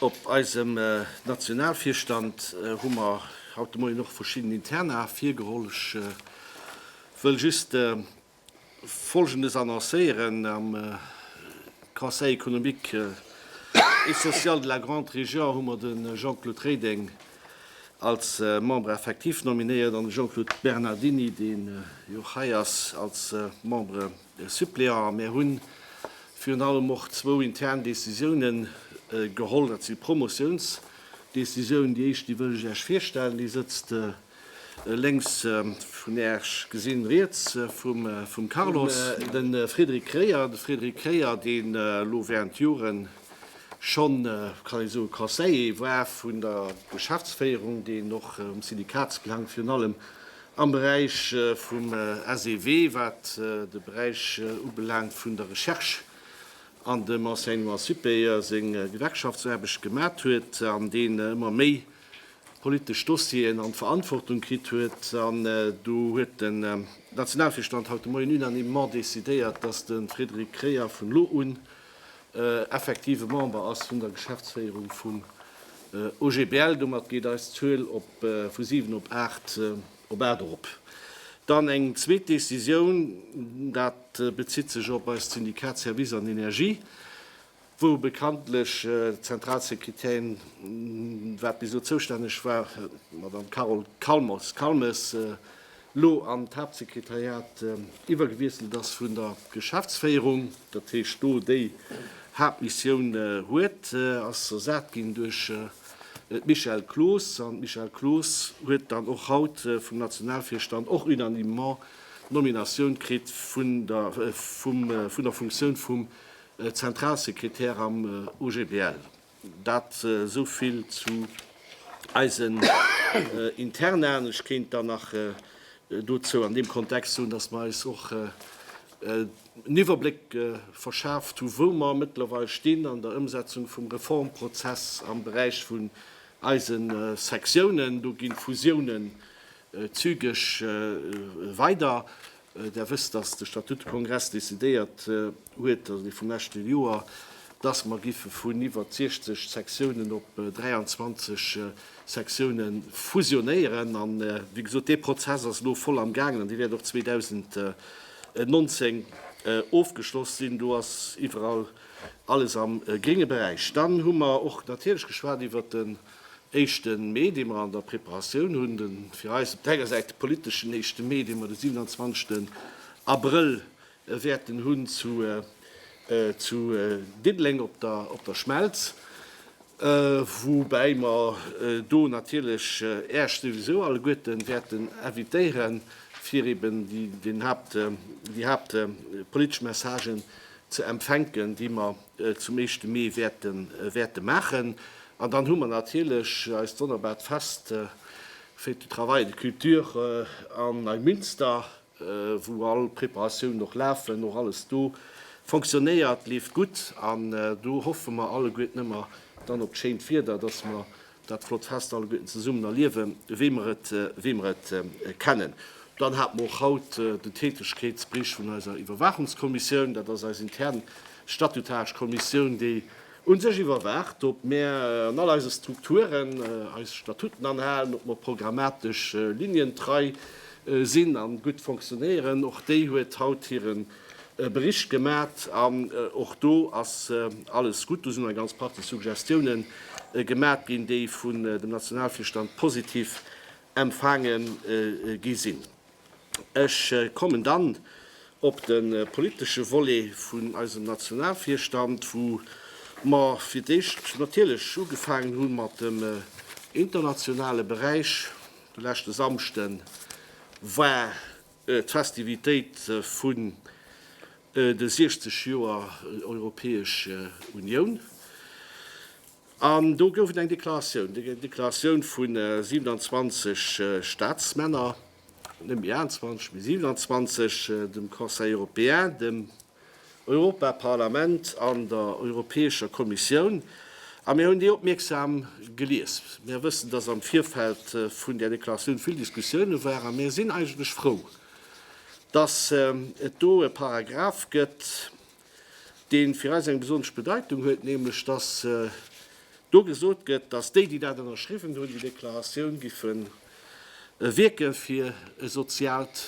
Op eisem Nationalvirstand hu mer haut de Moien och verschidden Interna virgeholl. Ech wëll just Folgendes annoncéieren, Am Conseil économique et social de la Grande Région hu mer de Jean-Claude Reding als Membre effectif nominéiert an de Jean-Claude Bernardini, dee jo och hei ass, als Membre suppléant. A mir hu virun allem och zwou intern Décisioune geholl. Dat si Promotiounsdécisioune. Déi éischt, déi wëll ech Iech virstellen, déi sëtzt Lénks vun Iech gesinn, riets vum Carlos, de Frédéric Kreyer. De Frédéric Kreyer, deen elo während Joren schonn, kann ee soen, Conseiller war vun der Geschäftsféierung, deen och um Syndikatsbelang, virun allem am Beräich vum SEW, wat de Beräich ubelaangt vun der Recherche an dem Enseignement supérieur, seng Gewerkschaftsaarbecht gemat huet an deen ëmmer méi, politesch Dossieren an d'Verantwortung kritt huet. An do huet den Nationalvirstand haut de Moien unanimement decidéiert, dass de Frédéric Kreyer vun elo un effektive Member ass vun der Geschäftsféierung vum OGBL. Domat geet eis Zuel vu 7 op 8 erop. Dann eng zweet Décisioun, dat bezitt sech op eist Syndikat Services an Energie. wou bekanntlech d'Zentralsekretärin, wat bis elo zoustänneg war, d'Madame Carole Calmes, Calmes, elo an d'Haaptsekretariat iwwergewiesselt ass vun der Geschäftsféierung, dat heescht do déi Haaptmissioun huet, ass ersat ginn duerch d'Michèle Cloos. An d'Michèle Cloos huet dann och haut vum Nationalvirstand och unanimement d'Nominatioun kritt vun der Funktioun vum Zentralsekretär am OGBL. Dat esou vill zu eisen Internaen. Ech kéint dann nach dozou an deem Kontext soen, dass mer eis och en Iwwerbléck verschaaft hu wou mer mëttlerweil stinn an der Ëmsetzung vum Reformprozess am Beräich vun eise Sektiounen. Do gi Fusiounen zügeg weider. Der wësst, dass de Statutekongress decidéiert huet, also dee vum leschte Joer, dass mer giffe vun iwwert 60 Sektiounen op 23 Sektione fusionéieren. An, wéi gesot, dee Prozess ass elo voll am gaangen an dee wäert och 2019 ofgeschloss sinn. Do ass iwwerall alles am grénge Beräich. Dann hu mer och natierlech geschwat iwwert de Éischte Mee, dee mer an der Preparatioun hunn, de fir eis op der enger Säit politeschen éischte Mee, dee mer de 27 Abrëll wäerten hunn zu Diddeleng op der Schmelz, woubäi mer do natierlech Äerch souwisou alleguerten wäerten invitéieren, fir eben déi haaptpolitesch Messagen ze empfänken, déi mer zum éischte Mee wäerten wäerte maachen. An dann hu mer natierlech eist wonnerbart Fest, Fête du travail et de culture, an Neumünster, wou all Preparatiounen och lafen, och alles do fonctionnéiert, leeft gutt. An do hoffe mer alleguerten ëmmer dann op d'schéint Wieder, dass mer Dat flott Fest alle Gutten zesummen erliewen, wéi mer et, wéi mer et kennen. Dann hat mer och haut den Tätegkeetsbericht vun eiser Iwwerwaachungskommissioun. Dat ass eis intern statutaresch Kommissioun, déi u sech iwwerwaacht, ob mer an all eise Strukturen eis Statuten anhalen, ob mer programmatesch Linien trei sinn an gutt fonctionnéieren. Och déi huet haut hiren e Bericht gemat an och do ass alles gutt. Do sinn eng ganz Partie Suggestiounen gemat ginn, déi vun dem Nationalvirstand positiv empfaange gi sinn. Ech kommen dann op de politesche Volet vun eisem Nationalvirstand, wou mer fir d'éischt natierlech ugefaangen hu mat dem internationale Beräich. De leschte Samschden war D'Festivitéit vun de 60 Joer Europäesch Unioun. An do gouf et eng Deklaratioun, eng Deklaratioun vu 27 Staatsmänner, net méi 28, mee 27, dem Conseil européen, dem Europaparlament an der Europäescher Kommissioun, a mir hunn déi opmierksam gelies. Mir wëssen, dass am Virfeld vun där Deklaratioun vill Diskussioune waren, a mir sinn eigentlech frou, dass et do e Paragraph gëtt, dee fir eis eng besonnesch Bedeitung huet, nämlech dass do gesot gëtt, dass déi, déi dat ënnerschriwwen hunn, déi Deklaratioun géife wierke fir e soziaalt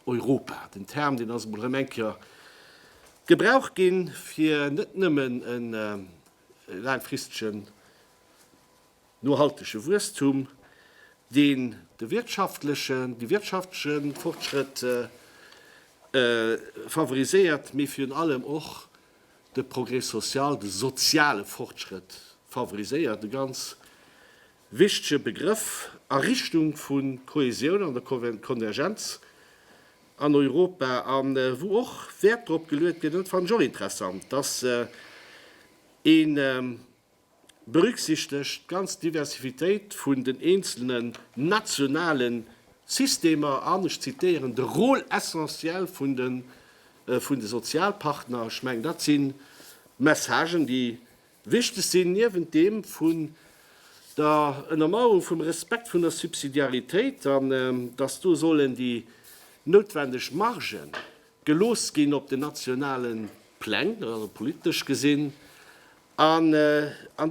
Europa, den Term deen ass emol erëm eng Kéier gebraucht ginn, fir net nëmmen e laangfristegen nohaltege Wuesstum, deen de wirtschaftlechen, de wirtschaftleche Fortschrëtt favoriséiert, mee virun allem och de Progrès social, de soziale Fortschrëtt favoriséiert, e ganz wichtege Begrëff a Richtung vu Kohäsioun an der Konvergenz an Europa a wou och Wäert drop geluet gëtt, an dat fannen ech och interessant, dass een berücksichtegt d'ganz Diversivitéit vun den eenzelne nationale Systemer an, ech zitieren, de Rôle essentiel vun de Sozialpartner. Ech mengen, dat si Messagen, déi Wichteg sinn niewent deem vun der Ënnermauerung vum Respekt vun der Subsidiaritéit an datt do sollen déi noutwendeg Margë gelooss ginn op den nationale Pläng, also politesch gesinn, an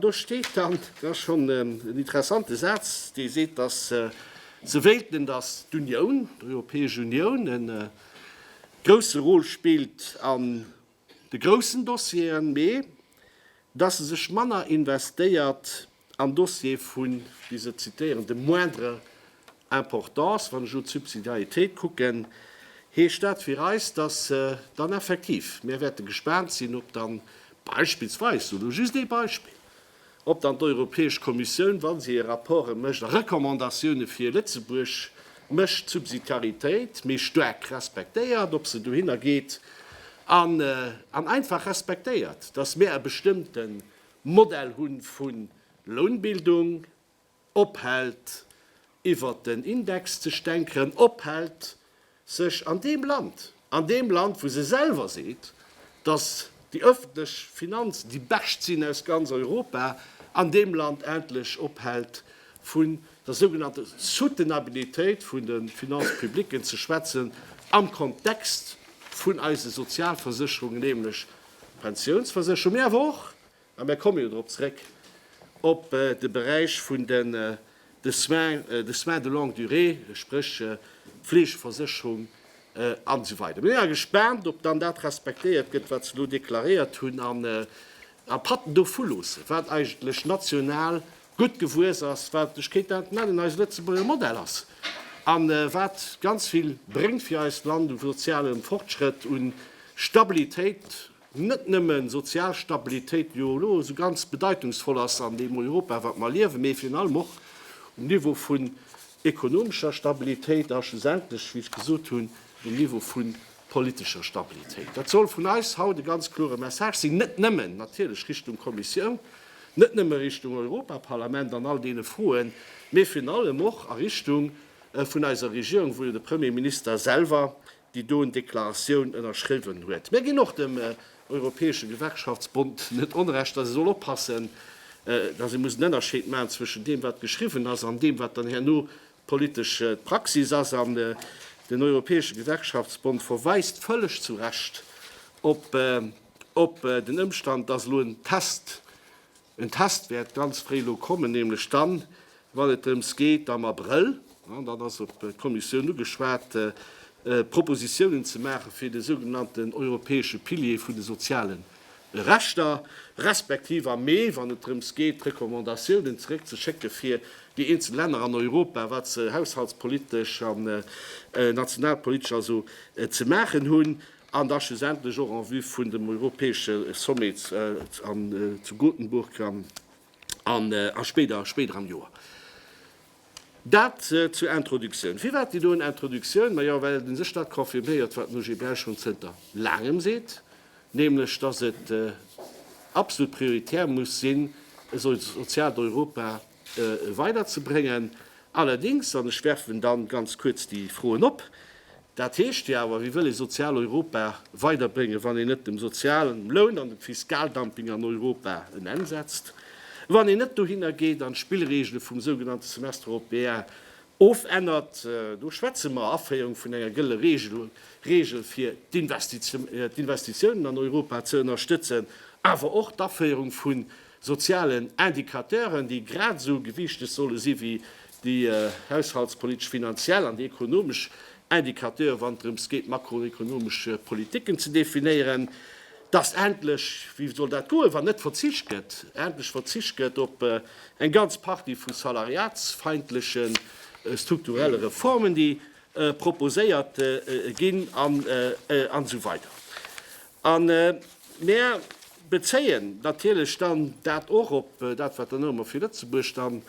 do steet dann, dat ass schonn en interessante Saz, dee seet, datt se wéilten, datt d'Unioun, d'Europäesch Unioun e grousse Rôle spillt an de groussen Dossieren, mee dass se sech manner investéiert an Dossiere vun, déi se zitieren, de moindre importance, wann ech elo d'Subsidiaritéit kucken, heescht dat fir eis, dass se dann effektiv, mär wäerte gespaant sinn, ob dann beispillsweis, elo just ee Beispill, ob dann d'Europäesch Kommissioun, wa se hir Rapporte mécht a Recommandatioune fir Lëtzebuerg mécht, d'Subsidiaritéit méi staark respektéiert, ob se dohinner geet an einfach respektéiert, datt mir e bestëmmte Modell hu vu Lounbildung, ophält iwwert den Index ze stänkeren, ophält sech an deem Land, an deem Land wou se selwer seet, datt déi ëffentlech Finanzen déi bescht sinn aus ganz Europa, an deem Land endlech ophält vun der sougenannter Soutenabilitéit vun de Finances publiques ze schwätzen am Kontext vun eise Sozialversécherungen, nämlech Pensiounsversécherungen, mee awer och A mir komme jo drop zréck, op de Beräich vun den de soins, de soins de longue durée, spréch d'Fleegeversécherung an esou weider. Mir si mar gespaant, ob dann dat respektéiert gëtt, wat se elo deklaréiert hunn an a Patten dovu loossen, wat eigentlech national gutt gewuess ass, wat, ech kéint dat nennen, eise Lëtzebuerger Modell ass a wat ganz vill bréngt fir eist Land u sozialem Fortschrëtt, u Stabilitéit. net nëmmen sozial Stabilitéit jo elo esou ganz bedeitungsvoll ass an deem Europa wat mer liewen, mee virun allem och um Niveau vun ekonomescher Stabilitéit a schlussendlech, wéi ech gesot hunn, um Niveau vu politescher Stabilitéit. Dat soll vun eis haut e ganz klore Message sinn, net nëmmen natierlech Richtung Kommissioun, net nëmme Richtung Europaparlament an all deene Froen, mee virun allem och a Richtung vun eiser Regierung, wou jo de Premier Minister selwer déi do en Deklaratioun ënnerschriwwen huet. Mir ginn och dem Europäesche Gewerkschaftsbond net Onrecht, datt e soll oppassen, datt ee muss en Ënnerscheed maachen zwëschen deem, wat geschriwwen ass, an deem, wat dann herno d'politesch Praxis ass. An den Europäesche Gewerkschaftsbond verweist vëlleg zu Recht op den Ëmstand, datt elo en Test, En Test wäert ganz fréi elo kommen, nämlech dann, wann et drëms geet am Abrëll, an dat ass op d'Kommissioun ugeschwat, Propositiounen ze maachen, fir de sougenannten europäesche Pilier vun de soziale Rechter, respektiv am Mee, wann et drëms geet d'Recommandatiounen zeréckzeschécke fir déi eenzel Länner an Europa, wat se haushaltspolitesch an nationalpolitesch also ze maachen hunn. An da schlussendlech och en vue vun dem europäesche Sommet zu Gothenburg a spéider am Joer. Dat zur Introductioun. Firwat déi doen Introductioun? Majo well den sech dat confirméiert, wat den OGBL schonn zënter Laangem seet, nämlech datt et absolut prioritär muss sinn, esou soziaalt Europa weiderzebréngen. Allerdings, an ech werfen dann ganz kuerz déi Froen op, dat heescht jo awer, Wie wëll ee Sozialeuropa weiderbréngen, wann een net dem sozialen Loun an dem Fiskaldumping an Europa en Enn setzt, wann een net dohinner geet an d'Spillregele vum sougenannte Semestre européen ofännert? Do schwätze mer Aféierung vun enger gëlle Regel, fir d'Investitiounen an Europa ze ënnerstëtzen, awer och d'Aféierung vu sozialen Indicateuren, déi grad esou gewiichteg solle si wéi déi haushaltspolitesch, finanziell an déi ekonomesch Indicateure wann et drëms geet makroekonomesch Politiken ze definéieren, datt endlech, wéi soll dat goen, wann net verzicht gëtt, endlech verzicht gëtt op eng ganz Partie vu salariatsfeindleche strukturelle Reformen, déi proposéiert ginn an esou weider. A mir bezéien natierlech dann dat och op dat, wat dann ëmmer fir Lëtzebuerg dann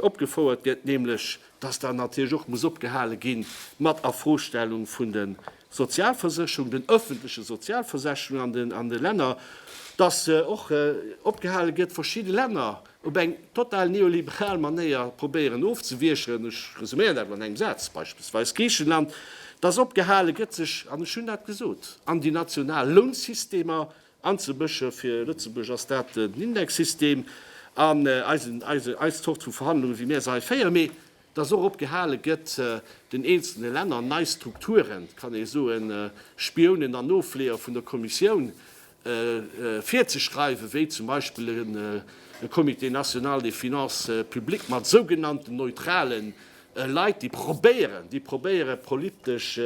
opgefouert gëtt, nämlech dass dann natierlech och muss opgehale gi mat Afrostellung vun de Sozialversécherungen, den öffentliche Sozialversécherungen an de Länner, dass och opgehale gëtt, verschidde Länner op eng total neoliberal Manéier probéieren ofzewiecheren, ech resuméieren dat elo an engem Saz, beispillsweis Griichenland, dass opgehale gëtt sech, an ech hunn dat gesot, an déi national Lounsystemer anzemësche, fir Lëtzebuerg ass dat den Indexsystem, an eisen, eise, eis Zort vu Verhandlunge wéi mir se hei féieren, mee dass och op gehale gëtt, den eenzelne Länner nei Strukturen, kann ee soen, Spiounen an Nofleeër vun der Kommissioun, virzeschreiwen, wéi zum Beispill e Comité national des finances publiques mat sougenannten neutralen Leit, déi probéieren, déi probéieren, politesch,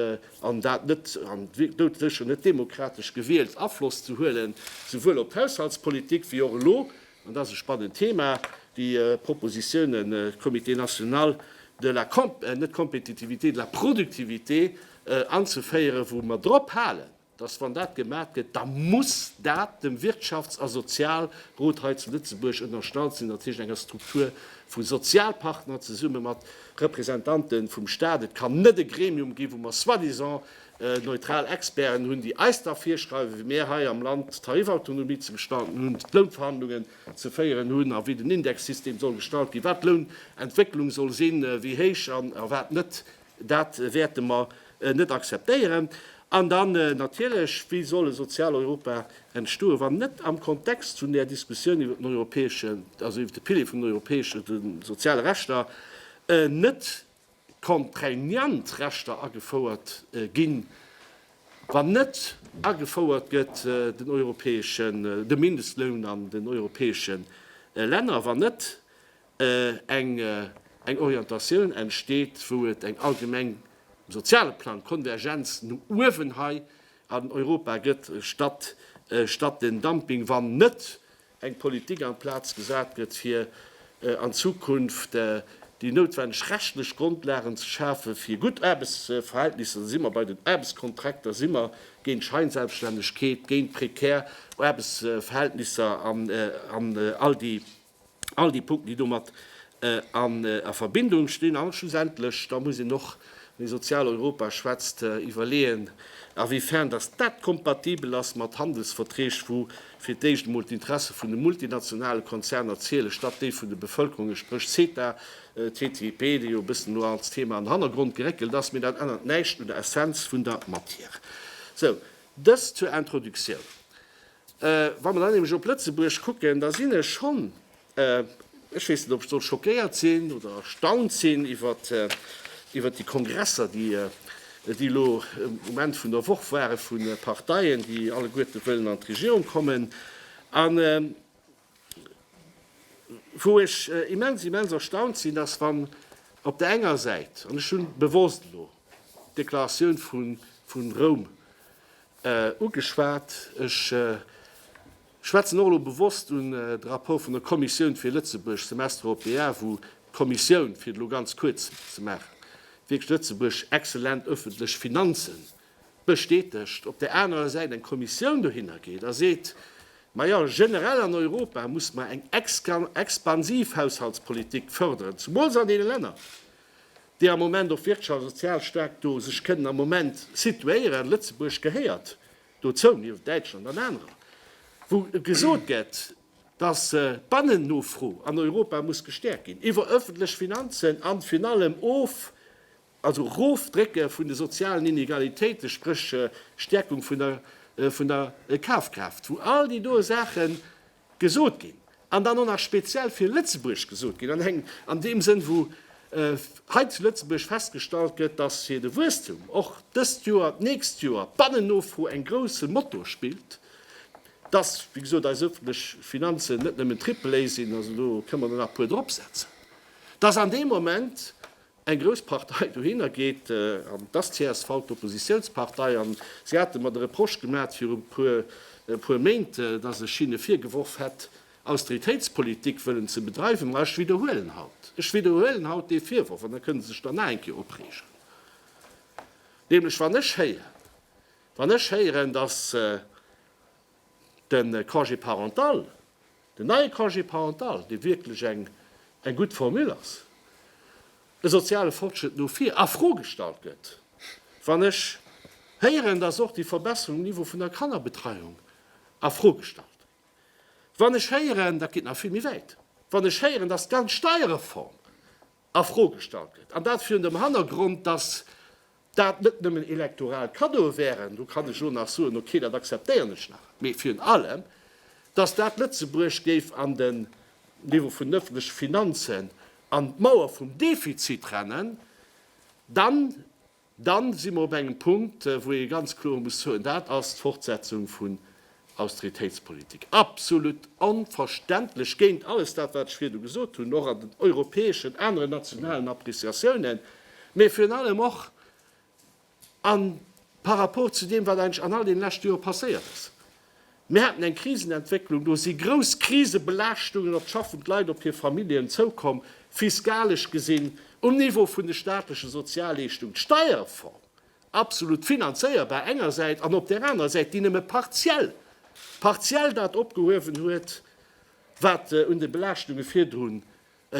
an dat net, an doudsécher net demokratesch gewielt, Afloss ze huelen, souwuel op d'Haushaltspolitik wéi och elo An dat ass e spannend Thema, déi Propositionen vum Comité national de la, net Compétitivité, de la productivité anzeféieren, wou mer drop halen, dass, wann dat gemat gëtt, da muss dat dem Wirtschafts a Sozialrot hei zu Lëtzebuerg ënnerstallt sinn, dat heescht enger Struktur vu Sozialpartner zesumme mat Representanten vum Stat. Et kann net e Gremium ginn, wou mer soi-disant Neutral Experten hunn, déi eis da virschreiwen, wéi mir hei am Land d'Tarifautonomie ze gestalten hunn, d'Lounverhandlungen ze féieren hunn a wéi den Indexsystem soll gestalt ginn, wat d'Lounentwécklung soll sinn, wéi héich a wat net. Dat wäerte mer net akzeptéieren. An dann natierlech, Wéi soll e sozial Europa entstoen, wann net am Kontext vun där Diskussioun iwwer den europäeschen, also iwwer de Pilier vun den europäesche soziale Rechter, net contraignant Rechter agefouert ginn, wann net agefouert gëtt den europäeschen, de Mindestloun an den europäesche Länner, wann net eng Orientatioun entsteet, wou et eng allgemeng, um soziale Plang, Konvergenz no uewen hei an Europa gëtt, statt den Dumping, wann net eng Politik an d'Plaz gesat gëtt, fir an Zukunft déi noutwendeg rechtlech Grondlagen ze schafen, fir gutt Aarbechtsverhältnisser, da si mer bei den Aarbechtskontrakter, da si mer géint Scheinselbststännegkeet, géint prekär Aarbechtsverhältnisser an all déi Punkten, déi domat a Verbindung stinn. An schlussendlech, da muss een och, wann ee Sozialeuropa schwätzt, iwwerleeën, awéifern dass dat kompatibel ass mat Handelsverträg, wou fir d'éischt emol d'Interesse vun de multinationale Konzerner zielen, statt déi vun de Bevëlkerunge, spréch CETA, TTIP, dee jo e bëssen elo als Thema an Hannergrond geréckelt ass, mee dat ännert näischt un der Essenz vun der Matière. Sou, dëst zur Introductioun. Wa mer dann nämlech op Lëtzebuerg kucken, da sinn ech schonn Ech weess net, ob ech soll schockéiert sinn oder erstaunt sinn iwwert déi Kongresser, déi elo um Enn vun der Woch ware vu Parteien, déi alleguerte wëllen an d'Regierung kommen, a wou ech immens, immens erstaunt sinn, dass, wann op där enger Säit, an ech hu bewosst elo d'Deklaratioun vu Roum ugeschwat, ech schwätzen och elo bewosst un de Rapport vun der Kommissioun fir Lëtzebuerg, Semestre européen, wou d'Kommissioun, fir et elo ganz kuerz ze maachen, wierklech Lëtzebuerg exzellent öffentlech Finanze bestätegt, op där anerer Säit eng Kommissioun dohinner geet a seet, Ma jo, generell an Europa musse mer eng expansiv Haushaltspolitik fördern, zumools an deene Länner, déi am Moment och wirtschafts a sozial staark do sech kënnen am Moment situéieren. Lëtzebuerg gehéiert dozou nieft Däitschland an anerer, wou gesot gëtt, dass d'Bannennofro an Europa muss gestäerkt ginn iwwer öffentlech Finanzen an virun allem of, also Erofdrécke vun de sozialen Inegalitéiten, spréch Stäerkung vun der Kafkraaft, wou all déi do Saachen Gesot ginn, an dann och nach speziell fir Lëtzebuerg gesot ginn, an engem, an deem Sënn, wou hei zu Lëtzebuerg festgestallt gëtt, dass fir de Wuesstum och dëst Joer, d'nächst Joer, d'Bannennofro eng grousse Motor spillt, dass, wéi gesot, eis öffentlech Finanzen net nëmmen Triple A sinn, also do kënnen mer der nach e puer dropsetzen, dass an deem Moment Eng grouss Partei dohinner geet, an et ass d'CSV, d'Oppositiounspartei, an si hate mer de Reproche gemat viru puer Méint, dass ech hinne virgeworf hätt, Austeritéitspolitik wëllen ze bedreiwen. Ma ech widderhuelen haut, ech widderhuelen haut dee Virworf, an da kënne se sech dann nach eng Kéier opreegen, nämlech wann ech héieren, wann ech héieren, dass de Congé parental, den neie Congé parental, dee wierklech eng gutt Formule ass, e soziale Fortschritt no vir a Fro gestallt gëtt. Wann ech héieren, dass och déi Verbesserung um Niveau vun der Kannerbetreiung a Fro gestallt gëtt, wann ech héieren, dat geet nach vill méi wäit, wann ech héieren, dass d'ganz Steierreform, a Fro gestallt gëtt, an dat virun dem Hannergrond, datt dat net nëmmen elektoral Cadeaue wären, do kann ech elo nach soen, okay, dat akzeptéieren ech nach, mee virun allem, datt dat Lëtzebuerg géif an den Niveau vun den ëffentleche Finanzen an d'Mauer vum Defizit rennen, dann Dann si mer op engem Punkt, wou ee ganz kloer muss soen, dat ass d'Fortsetzung vun Austeritéitspolitik. Absolut onverständlech, géint alles dat, wat ech virdu gesot hunn, och an den europäeschen, aneren nationalen Appreciatiounen, mä virun allem och par rapport zu deem, wat eigentlech an all deene leschte Jore passéiert ass. Mir haten eng Krisenentwécklung, do si grouss Krisebelaaschtungen op d'schaffend Leit, op hir Familljen zoukomm, fiskalesch gesinn, um Niveau vun de staatleche Sozialleeschtung, d'Steierreform, absolut finanzéierbar enger Säit, an op där anerer Säit, déi nëmme partiell, partiell dat opgehuewen huet, wat un de Belaaschtungen virdrun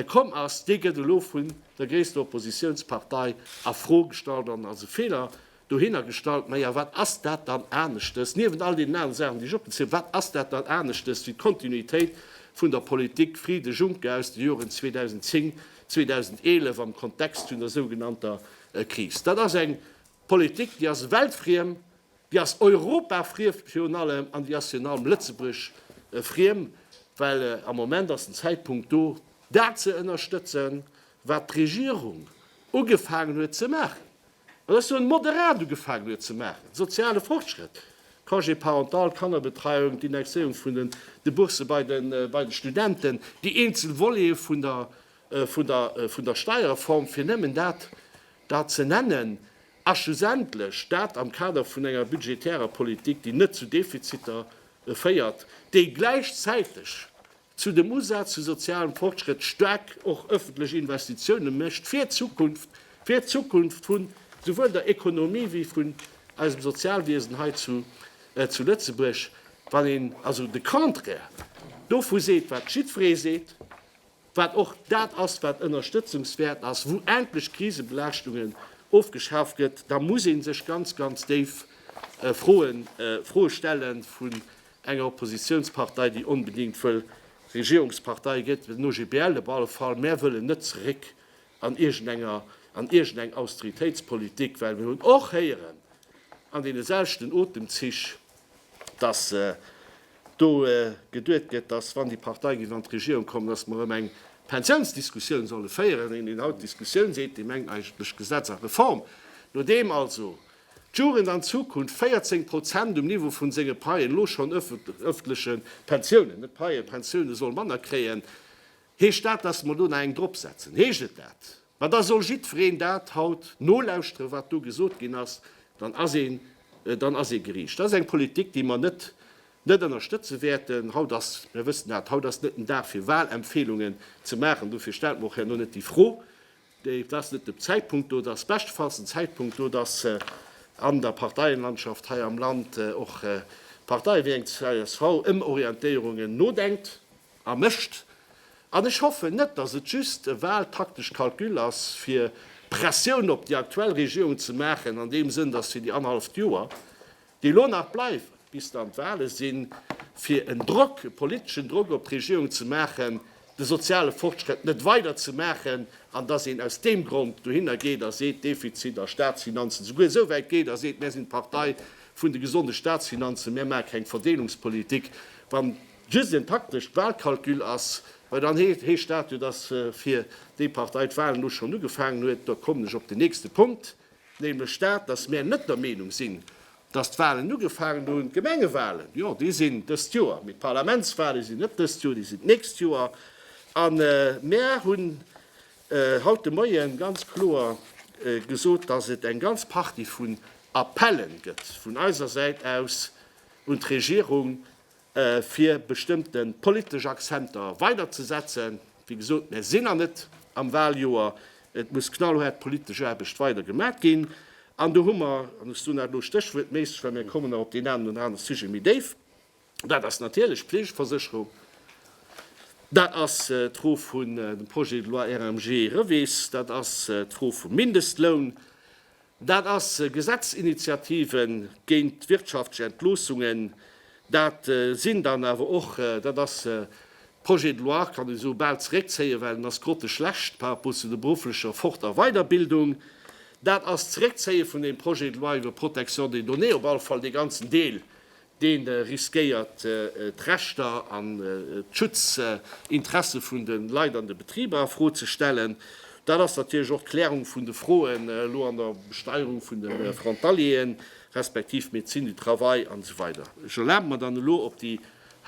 komm ass, dee gëtt elo vun der gréisster Oppositiounspartei a Fro gestallt an als e Feeler dohinner gestallt. Maja, wat ass dat dann aneschtes, niewent all deenen anere Saachen, déi ech opgezielt hunn, wat ass dat dann aneschtes wéi d'Kontinuitéit vun der Politik Frieden, Juncker aus de Joren 2010, 2011 am Kontext vun der sougenannter Kris? Dat ass eng Politik, déi ass weltfriem, Déi ass Europa friem virun allem an déi ass virun allem Lëtzebuerg friem, well am Moment ass den Zäitpunkt do, dat ze ënnerstëtzen, wat d'Regierung ugefaangen huet ze maachen, an ech soen moderat ugefaangen huet ze maachen, soziale Fortschrëtt, Congé parental, Kannerbetreiung, d'Indexéierung vun den Bourse bei de Studenten, déi eenzel Volete vun der Steierreform, fir nëmmen dat da ze nennen. A schlussendlech, dat am Kader vun enger budgetärer Politik, déi net zu Defiziter féiert, déi gläichzäiteg zu dem Usaz vu sozialem Fortschritt staark och öffentlech Investitiounen mécht fir d'Zukunft, fir d'Zukunft vu souwuel der Ekonomie wéi vun eisem Sozialwiesen hei zu Lëtzebuerg. Wann een also de Contraire dovu seet, wat jiddweree seet, wat och dat ass, wat ënnerstëtzungswäert ass, wou endlech Krisebelaaschtungen ofgeschaf gëtt, da muss ee sech ganz, ganz déif Froen, Froe stelle vun enger Oppositionspartei, déi onbedéngt wëll Regierungspartei gëtt, den OGBL op alle Fall. Mär wëllen net zeréck an iergendenger, an iergendeng Austeritéitspolitik, well mir hunn och héieren an deene selwechten Otemzich, dass do geduet gëtt, dass, wann déi Partei géif an d'Regierung kommen, dass mer erëm eng Pensiounsdiskussioun solle féieren, an een haut d'Diskussioun seet, déi mengt eigentlech Gesetz a Reform. Nodeem also d'Jugend an Zukunft 14 Prozent um Niveau vu senge Paien, elo schonn öffentleche Pensiounen, net Paien, Pensioune soll manner kréien, heescht dat, dass mer do nach eng dropsetzen? Heescht et dat? Ma da soll jiddwereen dat haut nolauschtere wat do gesot ginn ass, dann ass een, dann ass ee geriicht. Dat ass eng Politik déi mer net, net ënnerstëtze wäerten. Haut ass, mir wëssen dat, haut ass net den Dag fir Wahlempfeelungen ze maachen, dofir stellt mer och herno net déi Fro. Et ass net de Zäitpunkt do, et ass beschtefalls den Zäitpunkt do, datt an der Parteienlandschaft hei am Land och Parteie wéi eng csv ëm Orientéierungen nodenkt. A mécht. An ech hoffen net, datt et just e wahltaktesch Calcul ass, fir Pressioun op déi aktuell Regierung ze maachen, an deem Sënn, datt fir déi annerhalleft Joer, déi elo nach bleiwen, bis dann d'Wahle sinn, fir en Drock, e politeschen Drock op d'Regierung ze maachen, de soziale Fortschrëtt net weider ze maachen, an datt een aus deem Grond dohinner geet a seet, Defizit a Statsfinanzen, souguer esou wäit geet a seet, Mär sinn d'Partei vun de gesonde Statsfinanzen, mär maache keng Verdeelungspolitik, wann. just en taktescht Wahlcalcul ass, well dann heescht dat jo, dass fir déi Partei d'Wahlen elo schonn ugefaangen huet. Da kommen ech op den nächste Punkt, nämlech dat, dass mär net der Meenung sinn, dass d'Wahlen ugefaangen hunn. D'Gemengewahlen, jo, déi sinn dëst Joer, mee d'Parlamentswahlen sinn net dëst Joer, déi sinn d'nächst Joer. A mär hunn haut de Moien ganz kloer gesot, dass et eng ganz Partie vun Appellen gëtt vun eiser Säit aus un d'Regierung, fir bestëmmte politesch Accenter weider ze setzen. Wéi gesot, mär sinn nach net am Wahljoer, et muss knallhaart politesch Aarbecht weider gemat ginn. An do hu mer, an hues du nach elo Stéchwuert méisseg, well mär kommen nach op deen enen oder anere Sujet méi déif, dat ass natierlech d'Fleegeversécherung, dat ass d'Fro vun dem Projet de loi RMG Rewees, dat ass d'Fro vum Mindestloun, Dat ass Gesetzinitiative géint d'wirtschaftlech Entloossungen. Dat sinn dann awer och, dat ass d'Projets de loi, kann ech esou bal zeréckzéien, well en ass grotteschlecht par rapport zu der berufflecher Fort a Weiderbildung. Dat ass d'Zeréckzéie vun deem Projet de loi iwwer d'Protection des données, op alle Fall dee ganzen Deel, dee riskéiert d'Rechter an d'Schutzinteresse vun de Leit an de Betriber a Fro ze stellen. Dat ass natierlech och d'Klärung vun de Froen elo an der Besteierung vun de Frontalieren, respektiv Médecine du travail an esou weider. Ech erlabe mer dann elo op déi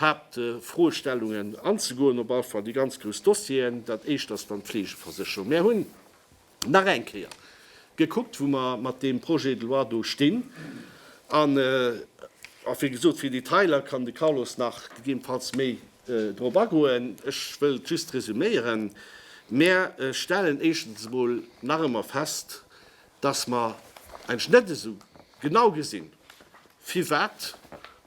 Haaptfroestellungen anzegoen, op alle Fall déi ganz grouss Dossieren. Dat éischt ass dann d'Fleegeversécherung. Mir hunn. nach eng Kéier gekuckt, wou mer mat deem Projet de loi do stinn. An, wéi gesot, fir Detailer kann de Carlos nach gegebenfalls méi drop agoen. Ech wëllt just resüméieren, Mer stellen éischtens emol nach ëmmer fest, dass mer eigentlech net esou genau gesinn, firwat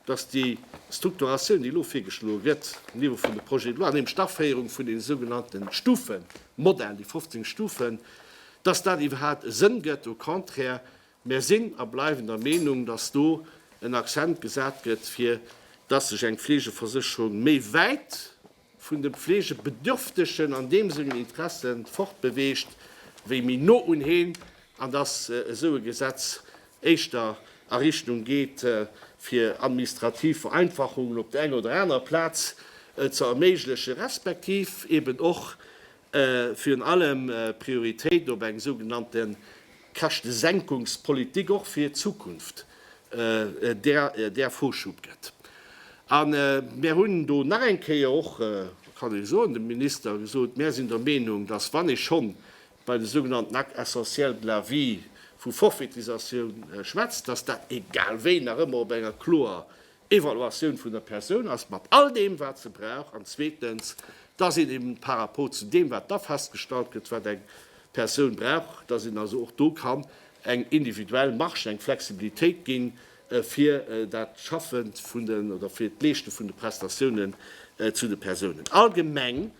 dass déi Strukturatioun, déi elo virgeschloe gëtt um Niveau vun de Projets de loi, nämlech d'Aféierung vun deene sougenannte Stufemodell, déi 15 Stufen, dass dat iwwerhaupt e Sënn gëtt. Au contraire, mär sinn a bleiwen der Meenung, dass do en Accent gesat gëtt, fir dass sech eng Fleegeversécherung méi wäit vun de Pflegebedürftegen an deem sengen Interesse fortbeweegt, wéi méi no un heen, an dass esou e Gesetz éischter a Richtung geet, fir administrativ Vereinfachungen op der enger oder anerer Plaz ze erméiglechen, respektiv eeben och Virun allem Prioritéit op eng sougenannte Käschtesenkungspolitik och fir d'Zukunft, där Vorschub gëtt. A mär hunn do nach eng Kéier och, kann ee soen, dem Minister gesot, mär sinn der Meenung, datt wann ee scho bei de sougenannten Actes essentiels de la vie vu Forfaitisatioun schwätzt, datt dat egal wéi nach ëmmer op enger kloer Evaluatioun vun der Persoun ass mat all deem, wat se brauch, an zweetens, dass een eben par rapport zu deem, wat da festgestallt gëtt, wat eng Persoun brauch, dass een also och do kann eng individuell Marge, eng Flexibilitéit ginn, fir dat Schaffen vun den oder fir d'Leeschte vun de Prestatiounen zu de Persounen. Allgemeng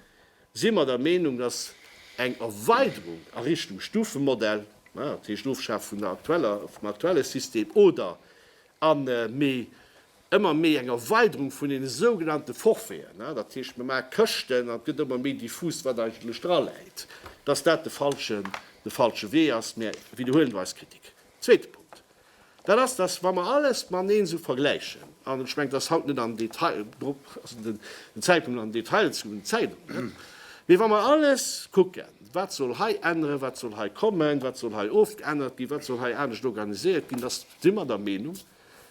si mer der Meenung, dass eng Erweiderung a Richtung Stufemodell, dat heescht Ofschafe vun der aktueller, vum aktuelle System oder an méi ëmmer méi eng Erweiderung vun deene sougenannte Forfaiten, dat heescht mir maache Këschten an et gëtt ëmmer méi diffus wat eigentlech dra läit, dass dat de falschen, de falsche Wee ass. Mir widderhuelen do eis Kritik. Zweete Punkt, dat ass, dass wa mer alles mateneen esou vergläichen, an ech mengen, et ass haut net am Detail, do ass net den Zäitpunkt an Detail ze goen, Zäit och net, mee wa mer alles kucken, wat soll hei änneren, wat soll hei kommen, wat soll hei ofgeännert ginn, wat soll hei anescht organiséiert ginn, dass si mer der Meenung,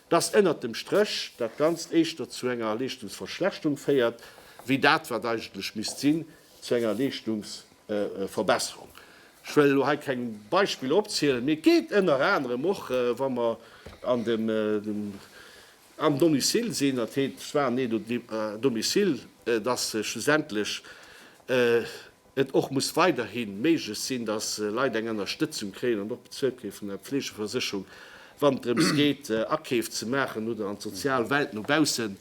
dass ënnert dem Stréch dat Ganzt éischter zu enger Leeschtungsverschlechterung féiert, wéi dat, wat eigentlech misst sinn, zu enger Leeschtungsverbesserung. Ech wëll elo hei keng Beispiller opzielen, mee et geet ënner anerem och, wa mer an dem am Domicile sinn, dat heet soins aidés à domicile, dass schlussendlech, et och muss weiderhi méiglech sinn, dass Leit eng Ënnerstëtzung kréien an och bezuelt gi vun der Pflegeversécherung, wann et drëms geet, Akeef ze maachen oder an d'sozial Welt no baussen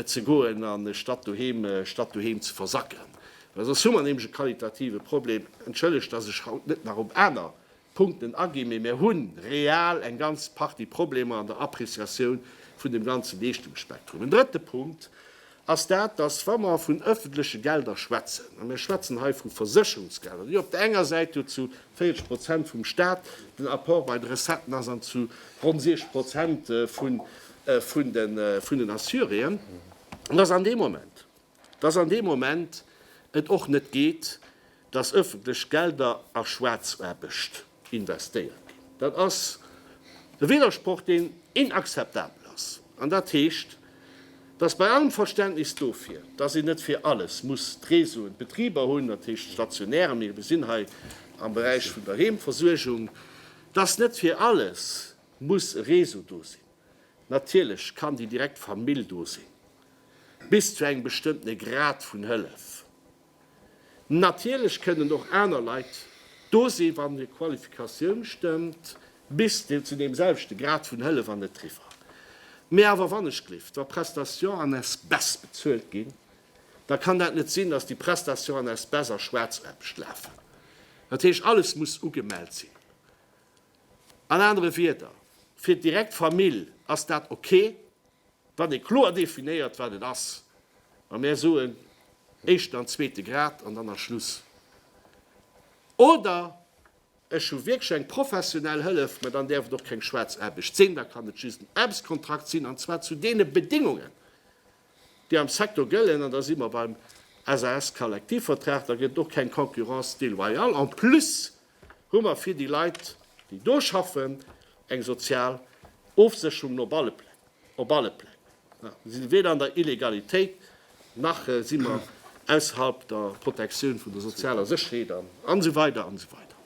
ze goen, anstatt doheem statt doheem ze versacken. Well soss hu mer nämlech e qualitative Problem. Entschëllegt, dass ech haut net nach op aner Punkten aginn, mee mir hunn real eng ganz Partie Problemer an der Appreciatioun vun dem ganze Leeschtungsspektrum. En drëtte Punkt ass dat, dass, wa mer vun öffentleche Gelder schwätzen, a mir schwätzen hei vu Versécherungsgelder, déi op der enger Säit jo zu 40 Prozent vum Stat den Apport bei de Recetten ass an zu ronn 60 Prozent vun den Assuréen, dass an deem Moment, dass an deem Moment et och net geet, dass öffentlech Gelder a Schwaarzaarbecht investéiert ginn. Dat ass e Widdersproch, deen inakzeptabel ass. An dat heescht, dass bei allem Verständnis dofir, dass een net fir alles muss d'Réseauen, d'Betriber hunn, dat heescht d'Stationären, mee mir sinn hei am Beräich vun der Heemversuergung, dass net fir alles muss e Réseau do sinn. Natierlech kann déi direkt Famill do sinn, bis zu engem bestëmmtene Grad vun Hëllef. Natierlech kënnen och aner Leit do sinn, wann hir Qualifikatioun stëmmt, bis zu deem selwechte Grad vun Hëllef an net driwwer. Mee awer wannechgelift, wa Prestations en espèces bezuelt ginn, da kann dat net sinn, dass déi Prestations en espèces a Schwaarzarbescht lafen. Dat heescht, alles muss ugemellt sinn. An anere Wierder, fir d'direkt Famill ass dat ok, wann ee kloer definéiert, wat et ass, ma mär soen éischten an zweete Grad an dann ass Schluss. Oder ech hu wierklech eng professionell Hëllef, ma dann däerf et och keng Schwaarzaarbecht sinn, da kann et just en Aarbechtskontrakt sinn, an zwar zu deene Bedingungen, déi am Secteur gëllen, an da si mer beim SAS-Kollektivvertrag, da gëtt et och keng Concurrence déloyale. En plus hu mer fir déi Leit, déi do schaffen, eng sozial Ofsécherung op alle Pläng. Op alle Pläng. Mir si weder an der Illegalitéit, nach si mer ausserhalb der Protektioun vun der sozialer Sécherheet an esou weider an esou weider.